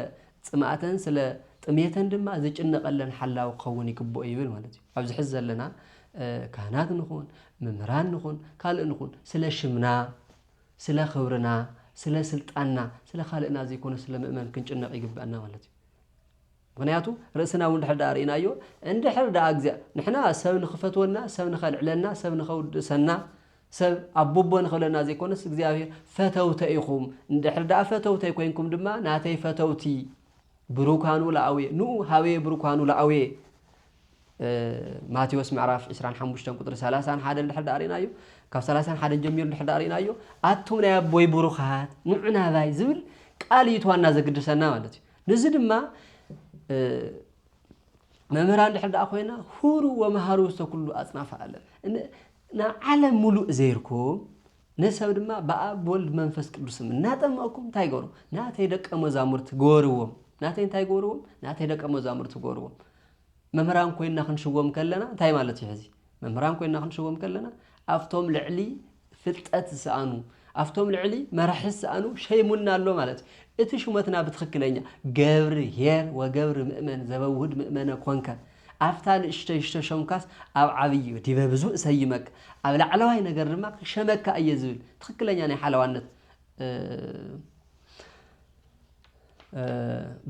ፅምኣተን ስለ ጥምየተን ድማ ዝጭነቐለን ሓላዊ ክኸውን ይግብኦ ይብል ማለት እዩ። ኣብዚ ሕዚ ዘለና ካህናት ንኹን ምምህራን ንኹን ካልእ ንኹን ስለ ሽምና ስለ ክብርና ስለ ስልጣንና ስለ ካልእና ዘይኮነ ስለ ምእመን ክንጭነቕ ይግበኣና ማለት እዩ። ምክንያቱ ርእስና እውን ድሕር ድኣ ርኢናዮ እንድሕር ድኣ ንሕና ሰብ ንክፈትወና ሰብ ንከልዕለና ሰብ ንከውድሰና ሰብ ኣቡቦ ንኽብለና ዘይኮነስ እግዚኣብሔር ፈተውተ ኢኹም እንድሕር ደኣ ፈተውተይ ኮይንኩም ድማ ናተይ ፈተውቲ ብሩካኑ ለኣውየ ንኡ ሃበየ ብሩካኑ ለኣውየ ማቴዎስ ምዕራፍ ዕስራን ሓሙሽተን ቁፅሪ ሰላሳን ሓደን ድሕር ደኣ ርኢናዮ ካብ ሰላሳን ሓደን ጀሚሩ ድሕር ደኣ ርኢናዮ ኣቱም ናይ ኣቦይ ብሩኻት ንዑ ናባይ ዝብል ቃል እዩ ትዋና ዘግድሰና ማለት እዩ ንዚ ድማ መምህራን ድሕር ደኣ ኮይና ሁሩ ወመሃሩ ውስተ ኩሉ ኣፅናፈ ዓለም ንዓለም ምሉእ ዘይርኩም፣ ንሰብ ድማ ብኣብ ብወልድ ብመንፈስ ቅዱስም እናጠመቕኩም እንታይ ገሩ? ናተይ ደቀ መዛሙርቲ ገበርዎም። ናተይ እንታይ ገበርዎም? ናተይ ደቀ መዛሙርቲ ገበርዎም። መምህራን ኮይና ክንሽወም ከለና እንታይ ማለት እዩ ሕዚ? መምህራን ኮይና ክንሽወም ከለና ኣብቶም ልዕሊ ፍልጠት ዝሰኣኑ ኣብቶም ልዕሊ መራሒ ዝሰኣኑ ሸይሙና ኣሎ ማለት እዩ። እቲ ሹመትና ብትኽክለኛ ገብር ሄር ወገብር ምእመን ዘበውህድ ምእመነ ኮንከ ኣብታ ንእሽቶይ ሽቶሾምካስ ኣብ ዓብዪ እዩ፣ ዲበ ብዙ እሰይመካ፣ ኣብ ላዕለዋይ ነገር ድማ ክሸመካ እየ ዝብል ትኽክለኛ ናይ ሓለዋነት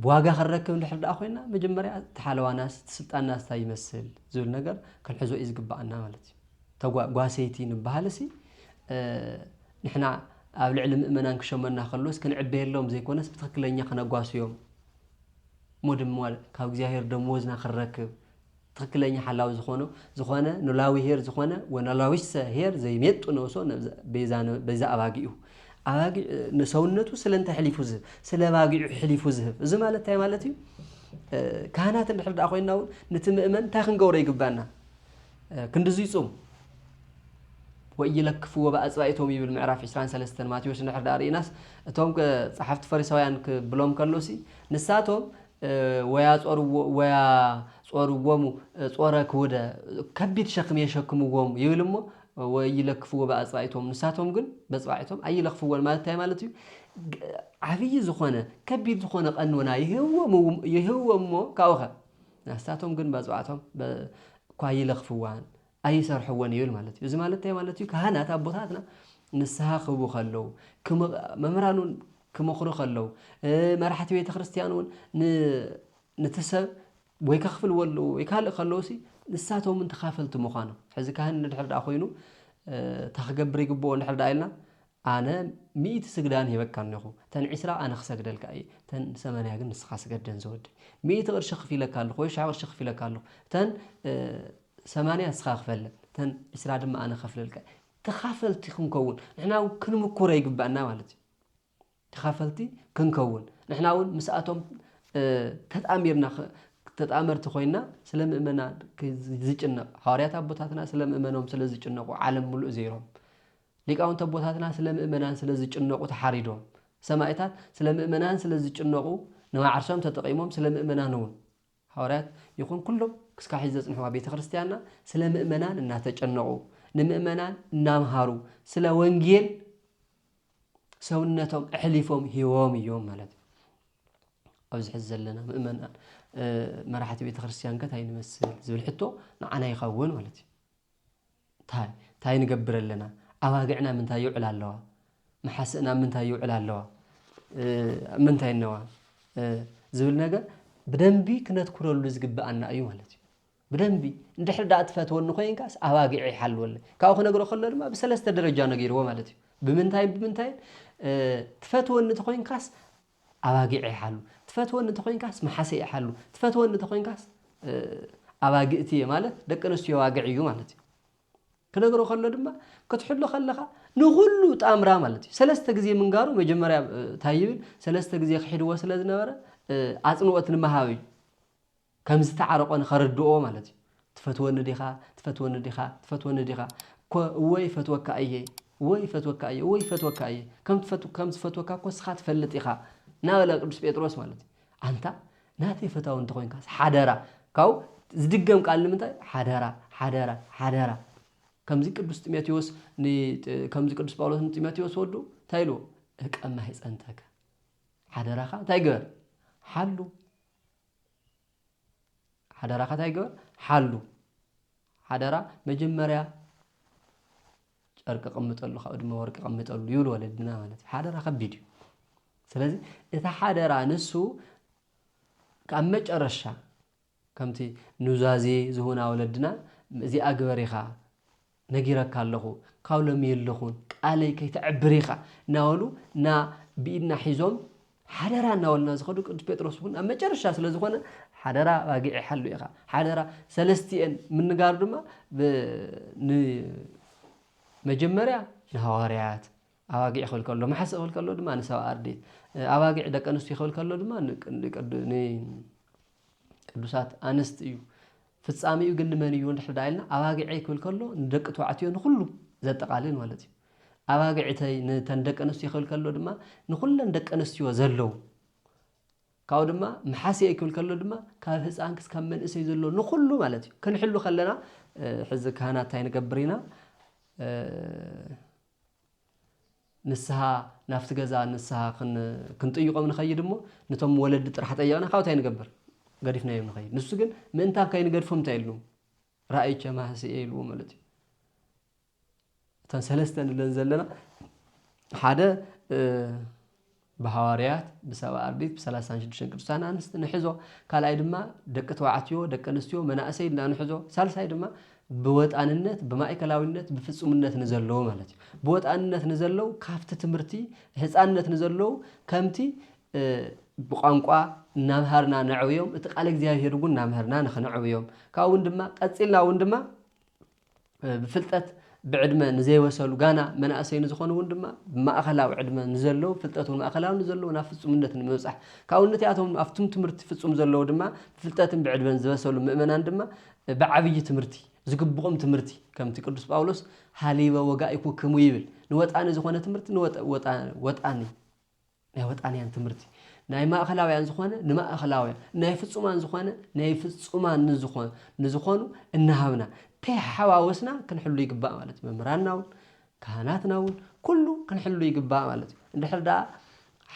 ብዋጋ ክንረክብ እንድሕር ደኣ ኮይና መጀመርያ እቲ ሓለዋናስ እቲ ስልጣንናስ እንታይ ይመስል ዝብል ነገር ክንሕዞ እዩ ዝግባኣና ማለት እዩ። ተጓ ጓሰይቲ ንበሃልሲ ንሕና ኣብ ልዕሊ ምእመናን ክሸመና ከሎስ ክንዕበየሎም ዘይኮነስ ብትኽክለኛ ክነጓስዮም እሞ ድማ ካብ እግዚኣብሔር ደመወዝና ክንረክብ ትክክለኛ ሓላዊ ዝኾኖ ዝኾነ ኖላዊ ሄር ዝኾነ ወኖላዊሰ ሄር ዘይሜጡ ነብሶ በይዛ ኣባጊኡ ኣባጊዕ ንሰውነቱ ስለ እንታይ ሕሊፉ ዝህብ ስለ ባጊዑ ሕሊፉ ዝህብ እዚ ማለት እንታይ ማለት እዩ ካህናት እንድሕር ደኣ ኮይንና እውን ነቲ ምእመን እንታይ ክንገብሮ ይግባና ክንድዙይ ጹም ወኢይለክፍዎ ብኣጽባኢቶም ይብል ምዕራፍ ዕስራን ሰለስተን ማቴዎስ እንድሕር ደኣ ርኢናስ እቶም ጸሓፍቲ ፈሪሳውያን ክብሎም ከሎሲ ንሳቶም ወያጾርዎ ወያጾርዎሙ ጾረ ክውደ ከቢድ ሸክም የሸክምዎም ይብል እሞ ወኢይለክፍዎ ብኣጽባኢቶም ንሳቶም ግን በጽባዒቶም ኣይለኽፍዎን ማለት እንታይ ማለት እዩ ዓብዪ ዝኾነ ከቢድ ዝኾነ ቀኖና ይህብዎም ይህብዎም እሞ ካብኡኸ ናስታቶም ግን ባጽባዕቶም እኳ ይለኽፍዋን ኣይሰርሕዎን ይብል ማለት እዩ። እዚ ማለት እንታይ ማለት እዩ? ካህናት ኣቦታትና ንስሓ ክህቡ ከለዉ፣ መምህራን እውን ክመኽሩ ከለዉ፣ መራሕቲ ቤተ ክርስቲያን እውን ነቲ ሰብ ወይ ከኽፍልዎ ኣለዉ ወይ ካልእ ከለዉሲ ንሳቶም እውን ተኻፈልቲ ምዃኖም ሕዚ ካህን ንድሕር ደኣ ኮይኑ እታ ክገብር ይግብኦ እንድሕር ደኣ ኢልና ኣነ ሚእቲ ስግዳን ሂበካ እኔኹ እተን ዕስራ ኣነ ክሰግደልካ እየ እተን ሰመንያ ግን ንስኻ ስገደን ዝወደይ ሚእቲ ቅርሺ ክፊለካ ኣለኹ ወይ ሽሕ ቅርሺ ክፊለካ ኣለኹ እተን ሰማንያ ንስኻ ክፈለን እተን ዕስራ ድማ ኣነ ከፍለልካ ተኻፈልቲ ክንከውን ንሕና እውን ክንምኩረ ይግባእና ማለት እዩ ተኻፈልቲ ክንከውን ንሕና እውን ምስኣቶም ተጣሚርና ተጣመርቲ ኮይና ስለ ምእመና ዝጭነቕ ሃዋርያት ኣቦታትና ስለ ምእመኖም ስለ ዝጭነቑ ዓለም ምሉእ ዘይሮም ሊቃውንቲ ኣቦታትና ስለ ምእመናን ስለ ዝጭነቑ ተሓሪዶም። ሰማኢታት ስለ ምእመናን ስለ ዝጭነቑ ንዓርሶም ተጠቒሞም ስለ ምእመናንውን። ሃዋርያት ይኹን ኩሎም ክስካዕ ሕዚ ዘጽንሕዋ ቤተ ክርስቲያንና ስለ ምእመናን እናተጨነቑ ንምእመናን እናምሃሩ ስለ ወንጌል ሰውነቶም ኣሕሊፎም ሂቦም እዮም ማለት እዩ። ኣብዚ ሕዚ ዘለና ምእመናን መራሕቲ ቤተ ክርስቲያን ከ እንታይ ንመስል ዝብል ሕቶ ንዓና ይኸውን ማለት እዩ። ታይ ታይ ንገብር ኣለና ኣባግዕና ምንታይ ይውዕላ ኣለዋ መሓስእና ኣብ ምንታይ ይውዕላ ኣለዋ ኣብ ምንታይ እነዋ ዝብል ነገር ብደንቢ ክነትኩረሉ ዝግብኣና እዩ ማለት እዩ ብደንቢ እንድሕር ዳኣ ትፈትወኒ ኮይንካስ ኣባጊዐ ይሓልወለይ ካብኡ ክነግሮ ከሎ ድማ ብሰለስተ ደረጃ ነጊርዎ ማለት እዩ ብምንታይን ብምንታይን ትፈትወኒ ተኮይንካስ ኣባጊዐይ ሓሉ ትፈትወኒ እንተኾይንካስ መሓሰየይ ሓሉ ትፈትወኒ እንተኾይንካስ ኣባግእቲ እየ ማለት ደቂ ኣንስትዮ ኣባግዕ እዩ ማለት እዩ ክነግሮ ከሎ ድማ ክትሕሎ ከለኻ ንኹሉ ጣምራ ማለት እዩ ሰለስተ ግዜ ምንጋሩ መጀመርያ እንታይ ይብል ሰለስተ ግዜ ክሒድዎ ስለ ዝነበረ ኣፅንኦት ንምሃብ እዩ ከም ዝተዓረቆ ንኸረድኦ ማለት እዩ ትፈትወኒ ዲኻ ትፈትወኒ ዲኻ ትፈትወኒ ዲኻ እኮ እወ ይፈትወካ እየ እወ ይፈትወካ እየ እወ ይፈትወካ እየ ከም ትፈት ከም ዝፈትወካ እኮ ንስኻ ትፈልጥ ኢኻ እናበለ ቅዱስ ጴጥሮስ ማለት እዩ ኣንታ ናተይ ፈታዊ እንተኾይንካስ ሓደራ ካብኡ ዝድገም ቃል ንምንታይ ሓደራ ሓደራ ሓደራ ከምዚ ቅዱስ ጢሞቴዎስ ከምዚ ቅዱስ ጳውሎስ ንጢሞቴዎስ ወዱ እንታይ ኢልዎ እቀማ ይጸንተከ ሓደራኻ እንታይ ግበር ሓሉ ሓደራኻ እንታይ ግበር ሓሉ ሓደራ መጀመርያ ጨርቂ ቀምጠሉ ካብኡ ድማ ወርቂ ቀምጠሉ ይብሉ ወለድና ማለት እዩ ሓደራ ከቢድ እዩ ስለዚ እቲ ሓደራ ንሱ ካብ መጨረሻ ከምቲ ኑዛዜ ዝሁና ወለድና እዚኣ ግበር ኢኻ ነጊረካ ኣለኹ ካብ ሎሚ የለኹን ቃለይ ከይተዕብር ኢኻ እናበሉ እና ብኢድና ሒዞም ሓደራ እናበሉና ዝኸዱ ቅዱስ ጴጥሮስ እውን ኣብ መጨረሻ ስለ ዝኾነ ሓደራ ኣባጊዕ ይሓሉ ኢኻ ሓደራ ሰለስቲኤን ምንጋሩ ድማ ብ- ን- መጀመርያ ንሃዋርያት ኣባጊዕ ክብል ከሎ ማሕስእ ክብል ከሎ ድማ ንሰብ ኣርዲት ኣባጊዕ ደቂ ኣንስትዩ ክብል ከሎ ድማ ንቅዱሳት ኣንስት እዩ ፍጻሚኡ ግን ንመን እዩ ንድሕር ዳ ኢልና ኣባጊዐይ ክብል ከሎ ንደቂ ተባዕትዮ ንኩሉ ዘጠቓልል ማለት እዩ ኣባጊዕተይ ንተን ደቂ ኣንስትዮ ክብል ከሎ ድማ ንኩለን ደቂ ኣንስትዮ ዘለዉ ካብኡ ድማ መሓስኤ ክብል ከሎ ድማ ካብ ህፃን ክስካብ መንእሰይ ዘሎ ንኩሉ ማለት እዩ ክንሕሉ ከለና ሕዚ ካህናት እንታይ ንገብር ኢና ንስሃ ናብቲ ገዛ ንስሃ ክንጥይቆም ንኸይድ እሞ ነቶም ወለዲ ጥራሕ ጠየቕና ካብኡ እንታይ ንገብር ገዲፍናዮም ንኸይድ ንሱ ግን ምእንታን ከይንገድፎም እንታይ ኢሉ ራእይ ቸማህሲ እየ ኢልዎ ማለት እዩ እተን ሰለስተ ንለን ዘለና ሓደ ብሃዋርያት፣ ብሰብኣ ኣርዲት፣ ብሰላሳን ሽዱሽተን ቅዱሳን ኣንስት ንሕዞ፣ ካልኣይ ድማ ደቂ ተባዕትዮ፣ ደቂ ኣንስትዮ፣ መናእሰይ ኢልና ንሕዞ፣ ሳልሳይ ድማ ብወጣንነት፣ ብማእከላዊነት፣ ብፍጹምነት ንዘለዉ ማለት እዩ። ብወጣንነት ንዘለዉ ካብቲ ትምህርቲ ህጻንነት ንዘለዉ ከምቲ ብቋንቋ እናምሃርና ነዕብዮም፣ እቲ ቃለ እግዚኣብሔር እውን እናምሀርና ንክነዕብዮም ካብኡ እውን ድማ ቀጺልና እውን ድማ ብፍልጠት ብዕድመ ንዘይበሰሉ ጋና መናእሰይ ንዝኾኑ እውን ድማ ብማእኸላዊ ዕድመ ንዘለዉ ፍልጠት እውን ማእኸላዊ ንዘለዉ ናብ ፍፁምነት ንምብፃሕ ካብኡ ነቲኣቶም ኣብቱም ትምህርቲ ፍፁም ዘለዉ ድማ ብፍልጠትን ብዕድመን ዝበሰሉ ምእመናን ድማ ብዓብዪ ትምህርቲ ዝግብኦም ትምህርቲ ከምቲ ቅዱስ ጳውሎስ ሃሊበ ወጋኢኩክሙ ይብል ንወጣኒ ዝኾነ ትምህርቲ ንወጣኒ ናይ ወጣንያን ትምህርቲ ናይ ማእኸላውያን ዝኾነ ንማእኸላውያን ናይ ፍፁማን ዝኾነ ናይ ፍፁማን ንዝኾ ንዝኾኑ እናሃብና ተሓዋወስና ክንሕሉ ይግባእ ማለት እዩ። መምህራንና እውን ካህናትና እውን ኩሉ ክንሕሉ ይግባእ ማለት እዩ። እንድሕር ደኣ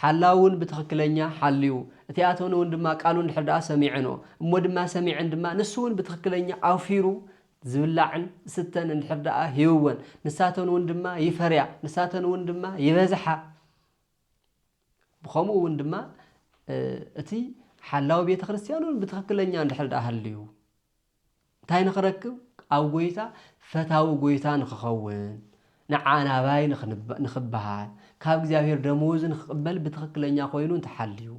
ሓላው እውን ብትኽክለኛ ሓልዩ እቲ ኣቶን እውን ድማ ቃሉ እንድሕር ደኣ ሰሚዐንኦ እሞ ድማ ሰሚዐን ድማ ንሱ እውን ብትኽክለኛ ኣውፊሩ ዝብላዕን ስተን እንድሕር ደኣ ሂብወን ንሳተን እውን ድማ ይፈርያ ንሳተን እውን ድማ ይበዝሓ ብኸምኡ እውን ድማ እቲ ሓላዊ ቤተ ክርስቲያን እውን ብትኽክለኛ እንድሕር ድኣ ሃልዩ እንታይ ንኽረክብ ኣብ ጎይታ ፈታዊ ጎይታ ንኽኸውን ንዓናባይ ንኽበሃል ካብ እግዚኣብሔር ደመወዝ ንኽቕበል ብትኽክለኛ ኮይኑ እንተሓልዩ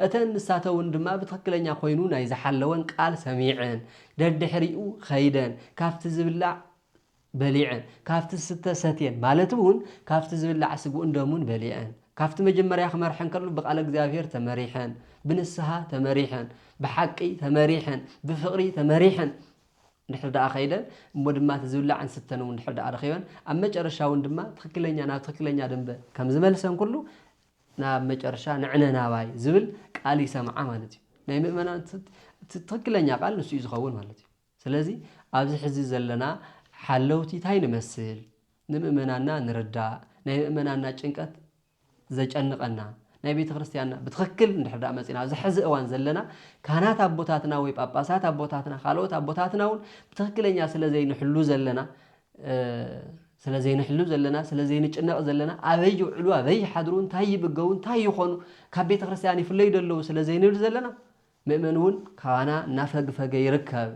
እተን ንሳተ እውን ድማ ብትኽክለኛ ኮይኑ ናይ ዝሓለወን ቃል ሰሚዐን ደድሕሪኡ ኸይደን ካብቲ ዝብላዕ በሊዐን፣ ካብቲ ዝስተ ሰትየን፣ ማለት እውን ካብቲ ዝብላዕ ስግኡን ደሙን በሊዐን፣ ካብቲ መጀመርያ ክመርሐን ከሎ ብቃለ እግዚኣብሔር ተመሪሐን፣ ብንስሃ ተመሪሐን፣ ብሓቂ ተመሪሐን፣ ብፍቅሪ ተመሪሐን እንድሕር ደኣ ከይደን እሞ ድማ እቲ ዝብላዕን ዝስተን እውን እንድሕር ደኣ ረኺበን ኣብ መጨረሻ እውን ድማ ትኽክለኛ ናብ ትኽክለኛ ደንበ ከም ዝመልሰን ኩሉ ናብ መጨረሻ ንዕነ ናባይ ዝብል ቃል ይሰምዓ ማለት እዩ። ናይ ምእመናን እቲ ትኽክለኛ ቃል ንሱ እዩ ዝኸውን ማለት እዩ። ስለዚ ኣብዚ ሕዚ ዘለና ሓለውቲ ታይ ንመስል ንምእመናንና ንርዳእ ናይ ምእመናንና ጭንቀት ዘጨንቀና ናይ ቤተክርስትያንና ብትክክል እንድሕር ድኣ መጺና ኣብዚ ሕዚ እዋን ዘለና ካህናት ኣቦታትና ወይ ጳጳሳት ኣቦታትና ካልኦት ኣቦታትና ውን ብትክክለኛ ስለ ዘይንሕሉ ዘለና ስለ ዘይንሕሉ ዘለና ስለ ዘይንጭነቅ ዘለና ኣበይ ይውዕሉ ኣበይ ይሓድሩ እንታይ ይምገቡ እንታይ ይኾኑ ካብ ቤተክርስትያን ይፍለዩ ዶ ኣለዉ ስለ ዘይንብል ዘለና ምእመን እውን ካባና እናፈግፈገ ይርከብ።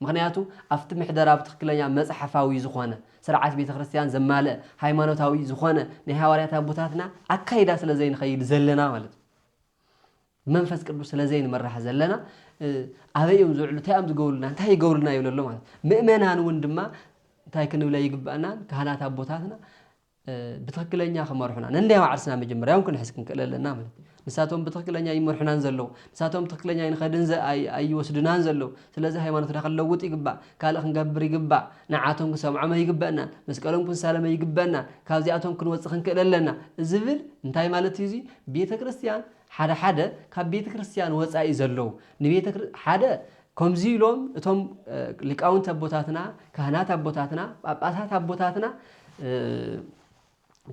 ምኽንያቱ ኣብቲ ምሕደራ ብትኽክለኛ መጽሓፋዊ ዝኾነ፣ ስርዓት ቤተ ክርስቲያን ዘማልእ፣ ሃይማኖታዊ ዝኾነ ናይ ሃዋርያት ኣቦታትና ኣካይዳ ስለ ዘይንኸይድ ዘለና ማለት እዩ። ብመንፈስ ቅዱስ ስለ ዘይንመራሕ ዘለና ኣበይ እዮም ዝውዕሉ፣ እንታይ እዮም ዝገብሩልና፣ እንታይ ይገብሩልና ይብለሎ ማለት ምእመናን እውን ድማ እንታይ ክንብለ ይግባእና ካህናት ኣቦታትና ብትኽክለኛ ክመርሑና ነናይ ባዕርስና መጀመርያውን ክንሕዝ ክንክእል ኣለና ማለት እዩ ንሳቶም ብትኽክለኛ ይመርሑናን ዘለዉ ንሳቶም ብትኽክለኛ ይንኸድን ኣይወስዱናን ዘለዉ ስለዚ ሃይማኖትና ክንለውጥ ይግባእ ካልእ ክንገብር ይግባእ ንዓቶም ክንሰምዖም ኣይግበእናን መስቀሎም ክንሳለመ ይግበእናን ካብዚኣቶም ክንወፅእ ክንክእል ኣለና ዝብል እንታይ ማለት እዩ እዚ ቤተ ክርስትያን ሓደ ሓደ ካብ ቤተ ክርስትያን ወፃኢ ዘለዉ ንቤተ ሓደ ከምዚ ኢሎም እቶም ሊቃውንቲ ኣቦታትና፣ ካህናት ኣቦታትና፣ ጳጳሳት ኣቦታትና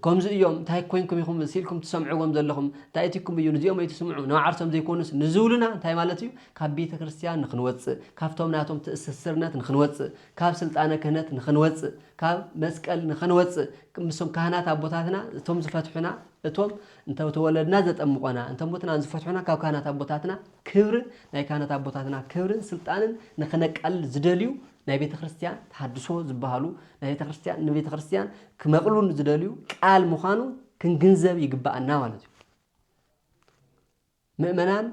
ከምዚ እዮም እንታይ ኮይንኩም ኢኹም ሲኢልኩም ትሰምዕዎም ዘለኹም እንታይ እትኩም እዩ ንዚኦም ኣይትስምዑ ንዓርሶም ዘይኮኑስ ንዝብሉና እንታይ ማለት እዩ ካብ ቤተ ክርስቲያን ንክንወፅእ ካብቶም ናቶም ትእስስርነት ንክንወፅእ ካብ ስልጣነ ክህነት ንክንወፅእ ካብ መስቀል ንክንወፅእ ምስም ካህናት ኣቦታትና እቶም ዝፈትሑና እቶም እንተተወለድና ዘጠምቆና እንተሞትና ዝፈትሑና ካብ ካህናት ኣቦታትና ክብርን ናይ ካህናት ኣቦታትና ክብርን ስልጣንን ንክነቃልል ዝደልዩ ናይ ቤተ ክርስቲያን ተሃድሶ ዝበሃሉ ናይ ቤተ ክርስቲያን ንቤተ ክርስቲያን ክመቕሉን ዝደልዩ ቃል ምዃኑ ክንግንዘብ ይግባኣና ማለት እዩ። ምእመናን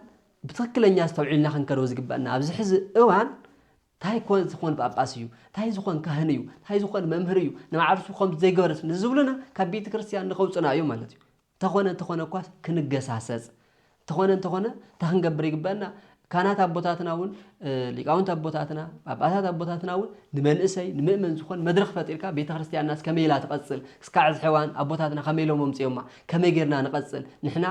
ብትክክለኛ ኣስተውዒልና ክንከደው ዝግበአና ኣብዚ ሕዚ እዋን እንታይ ኮን ዝኾን ጳጳስ እዩ እንታይ ዝኾን ካህን እዩ እንታይ ዝኾን መምህር እዩ ንባዕርሱ ከምዚ ዘይገበረስ ንዝብሉና ካብ ቤተ ክርስቲያን ንከውፅና እዩ ማለት እዩ እንተኾነ እንተኾነ እኳ ክንገሳሰጽ እንተኾነ እንተኾነ እንታይ ክንገብር ይግበእና ካህናት ኣቦታትና እውን ሊቃውንት ኣቦታትና ጳጳሳት ኣቦታትና እውን ንመንእሰይ ንምእመን ዝኾን መድረኽ ፈጢርካ ቤተ ክርስቲያንናስ ከመይ ኢላ ትቐጽል እስካዕ እዚ ሕዋን ኣቦታትና ከመይ ኢሎም ኣምጺኦማ ከመይ ጌርና ንቐጽል ንሕና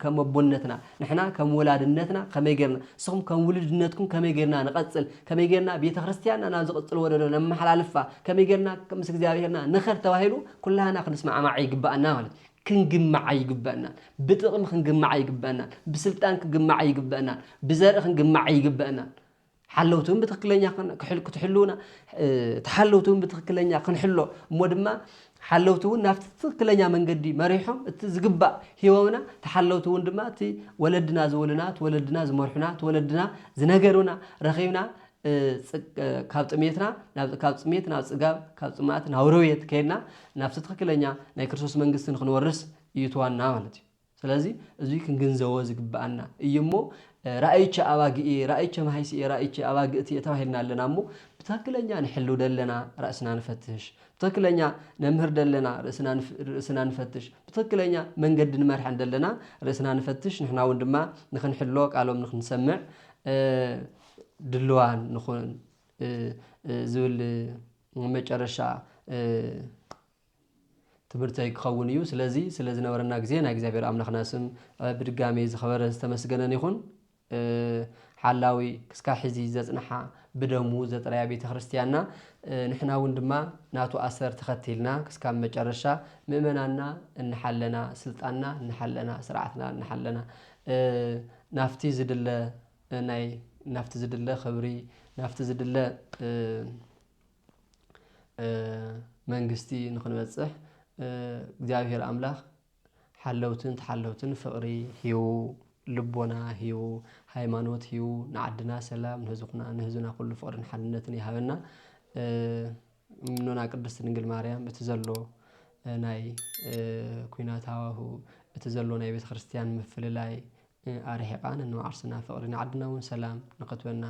ከም ኣቦነትና ንሕና ከም ወላድነትና ከመይ ጌርና ንስኹም ከም ውሉድነትኩም ከመይ ጌርና ንቐጽል ከመይ ጌርና ቤተ ክርስቲያንና ናብ ዝቕጽል ወለዶ ነመሓላልፋ ከመይ ጌርና ምስ እግዚኣብሔርና ንኸድ ተባሂሉ ኩላህና ክንስማዕማዕ ይግበኣና ማለት እዩ። ክንግማዕ ኣይግበእናን። ብጥቕሚ ክንግማዕ ኣይግበእናን። ብስልጣን ክንግማዕ ኣይግበእናን። ብዘርኢ ክንግማዕ ኣይግበእናን። ሓለውቲ እውን ብትክክለኛ ክትሕልውና ተሓለውቲ እውን ብትክክለኛ ክንሕሎ እሞ ድማ ሓለውቲ እውን ናብቲ ትክክለኛ መንገዲ መሪሖም እቲ ዝግባእ ሂቦምና ተሓለውቲ እውን ድማ እቲ ወለድና ዝብሉና እቲ ወለድና ዝመርሑና እቲ ወለድና ዝነገሩና ረኺብና ካብ ጥሜትና ናብ ካብ ጥሜት ናብ ጽጋብ ካብ ጽማእት ናብ ረውየት ከይድና ናብቲ ትኽክለኛ ናይ ክርስቶስ መንግስቲ ንክንወርስ እዩ ትዋና ማለት እዩ ስለዚ እዚ ክንግንዘቦ ዝግብኣና እዩ እሞ ራእይቸ ኣባግኢ ራእይቸ ማሃይስኢ ራእይቸ ኣባግእቲ ተባሂልና ኣለና እሞ ብትክክለኛ ንሕሉ ደለና ራእስና ንፈትሽ ብትክክለኛ ነምህር ደለና ርእስና ርእስና ንፈትሽ ብትክክለኛ መንገዲ ንመርሐ ደለና ርእስና ንፈትሽ ንሕና እውን ድማ ንክንሕሎ ቃሎም ንክንሰምዕ ድሉዋን ንኹን ዝብል መጨረሻ ትምህርተይ ክኸውን እዩ። ስለዚ ስለ ዝነበረና ግዜ ናይ እግዚኣብሔር ኣምላኽና ስም ብድጋሜ ዝኸበረ ዝተመስገነን ይኹን። ሓላዊ ክስካ ሕዚ ዘጽንሓ ብደሙ ዘጥረያ ቤተ ክርስቲያንና ንሕና እውን ድማ ናቱ ኣሰር ተኸቲልና ክስካብ መጨረሻ ምእመናንና እንሓለና ስልጣንና እንሓለና ስርዓትና እንሓለና ናፍቲ ዝድለ ናይ ናብቲ ዝድለ ክብሪ ናብቲ ዝድለ መንግስቲ ንክንበፅሕ እግዚኣብሔር ኣምላክ ሓለውትን ተሓለውትን ፍቅሪ ሂቡ ልቦና ሂቡ ሃይማኖት ሂቡ ንዓድና ሰላም ንህዝብና ኩሉ ፍቅርን ሓድነትን ይሃበና። እኖና ቅድስት ድንግል ማርያም እቲ ዘሎ ናይ ኩናት ሃዋሁ እቲ ዘሎ ናይ ቤተክርስትያን ምፍልላይ ኣርሒቃ ነንባዕርስና ፍቅሪ ንዓድና ውን ሰላም ንክትበና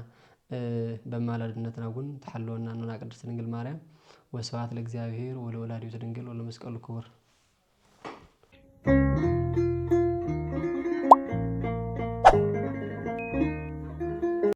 በማላድነትና ውን ትሓልወና እኖና ቅድስት ድንግል ማርያም ወስብሃት ለእግዚኣብሔር ወለወላዲቱ ድንግል ወለመስቀሉ ክቡር።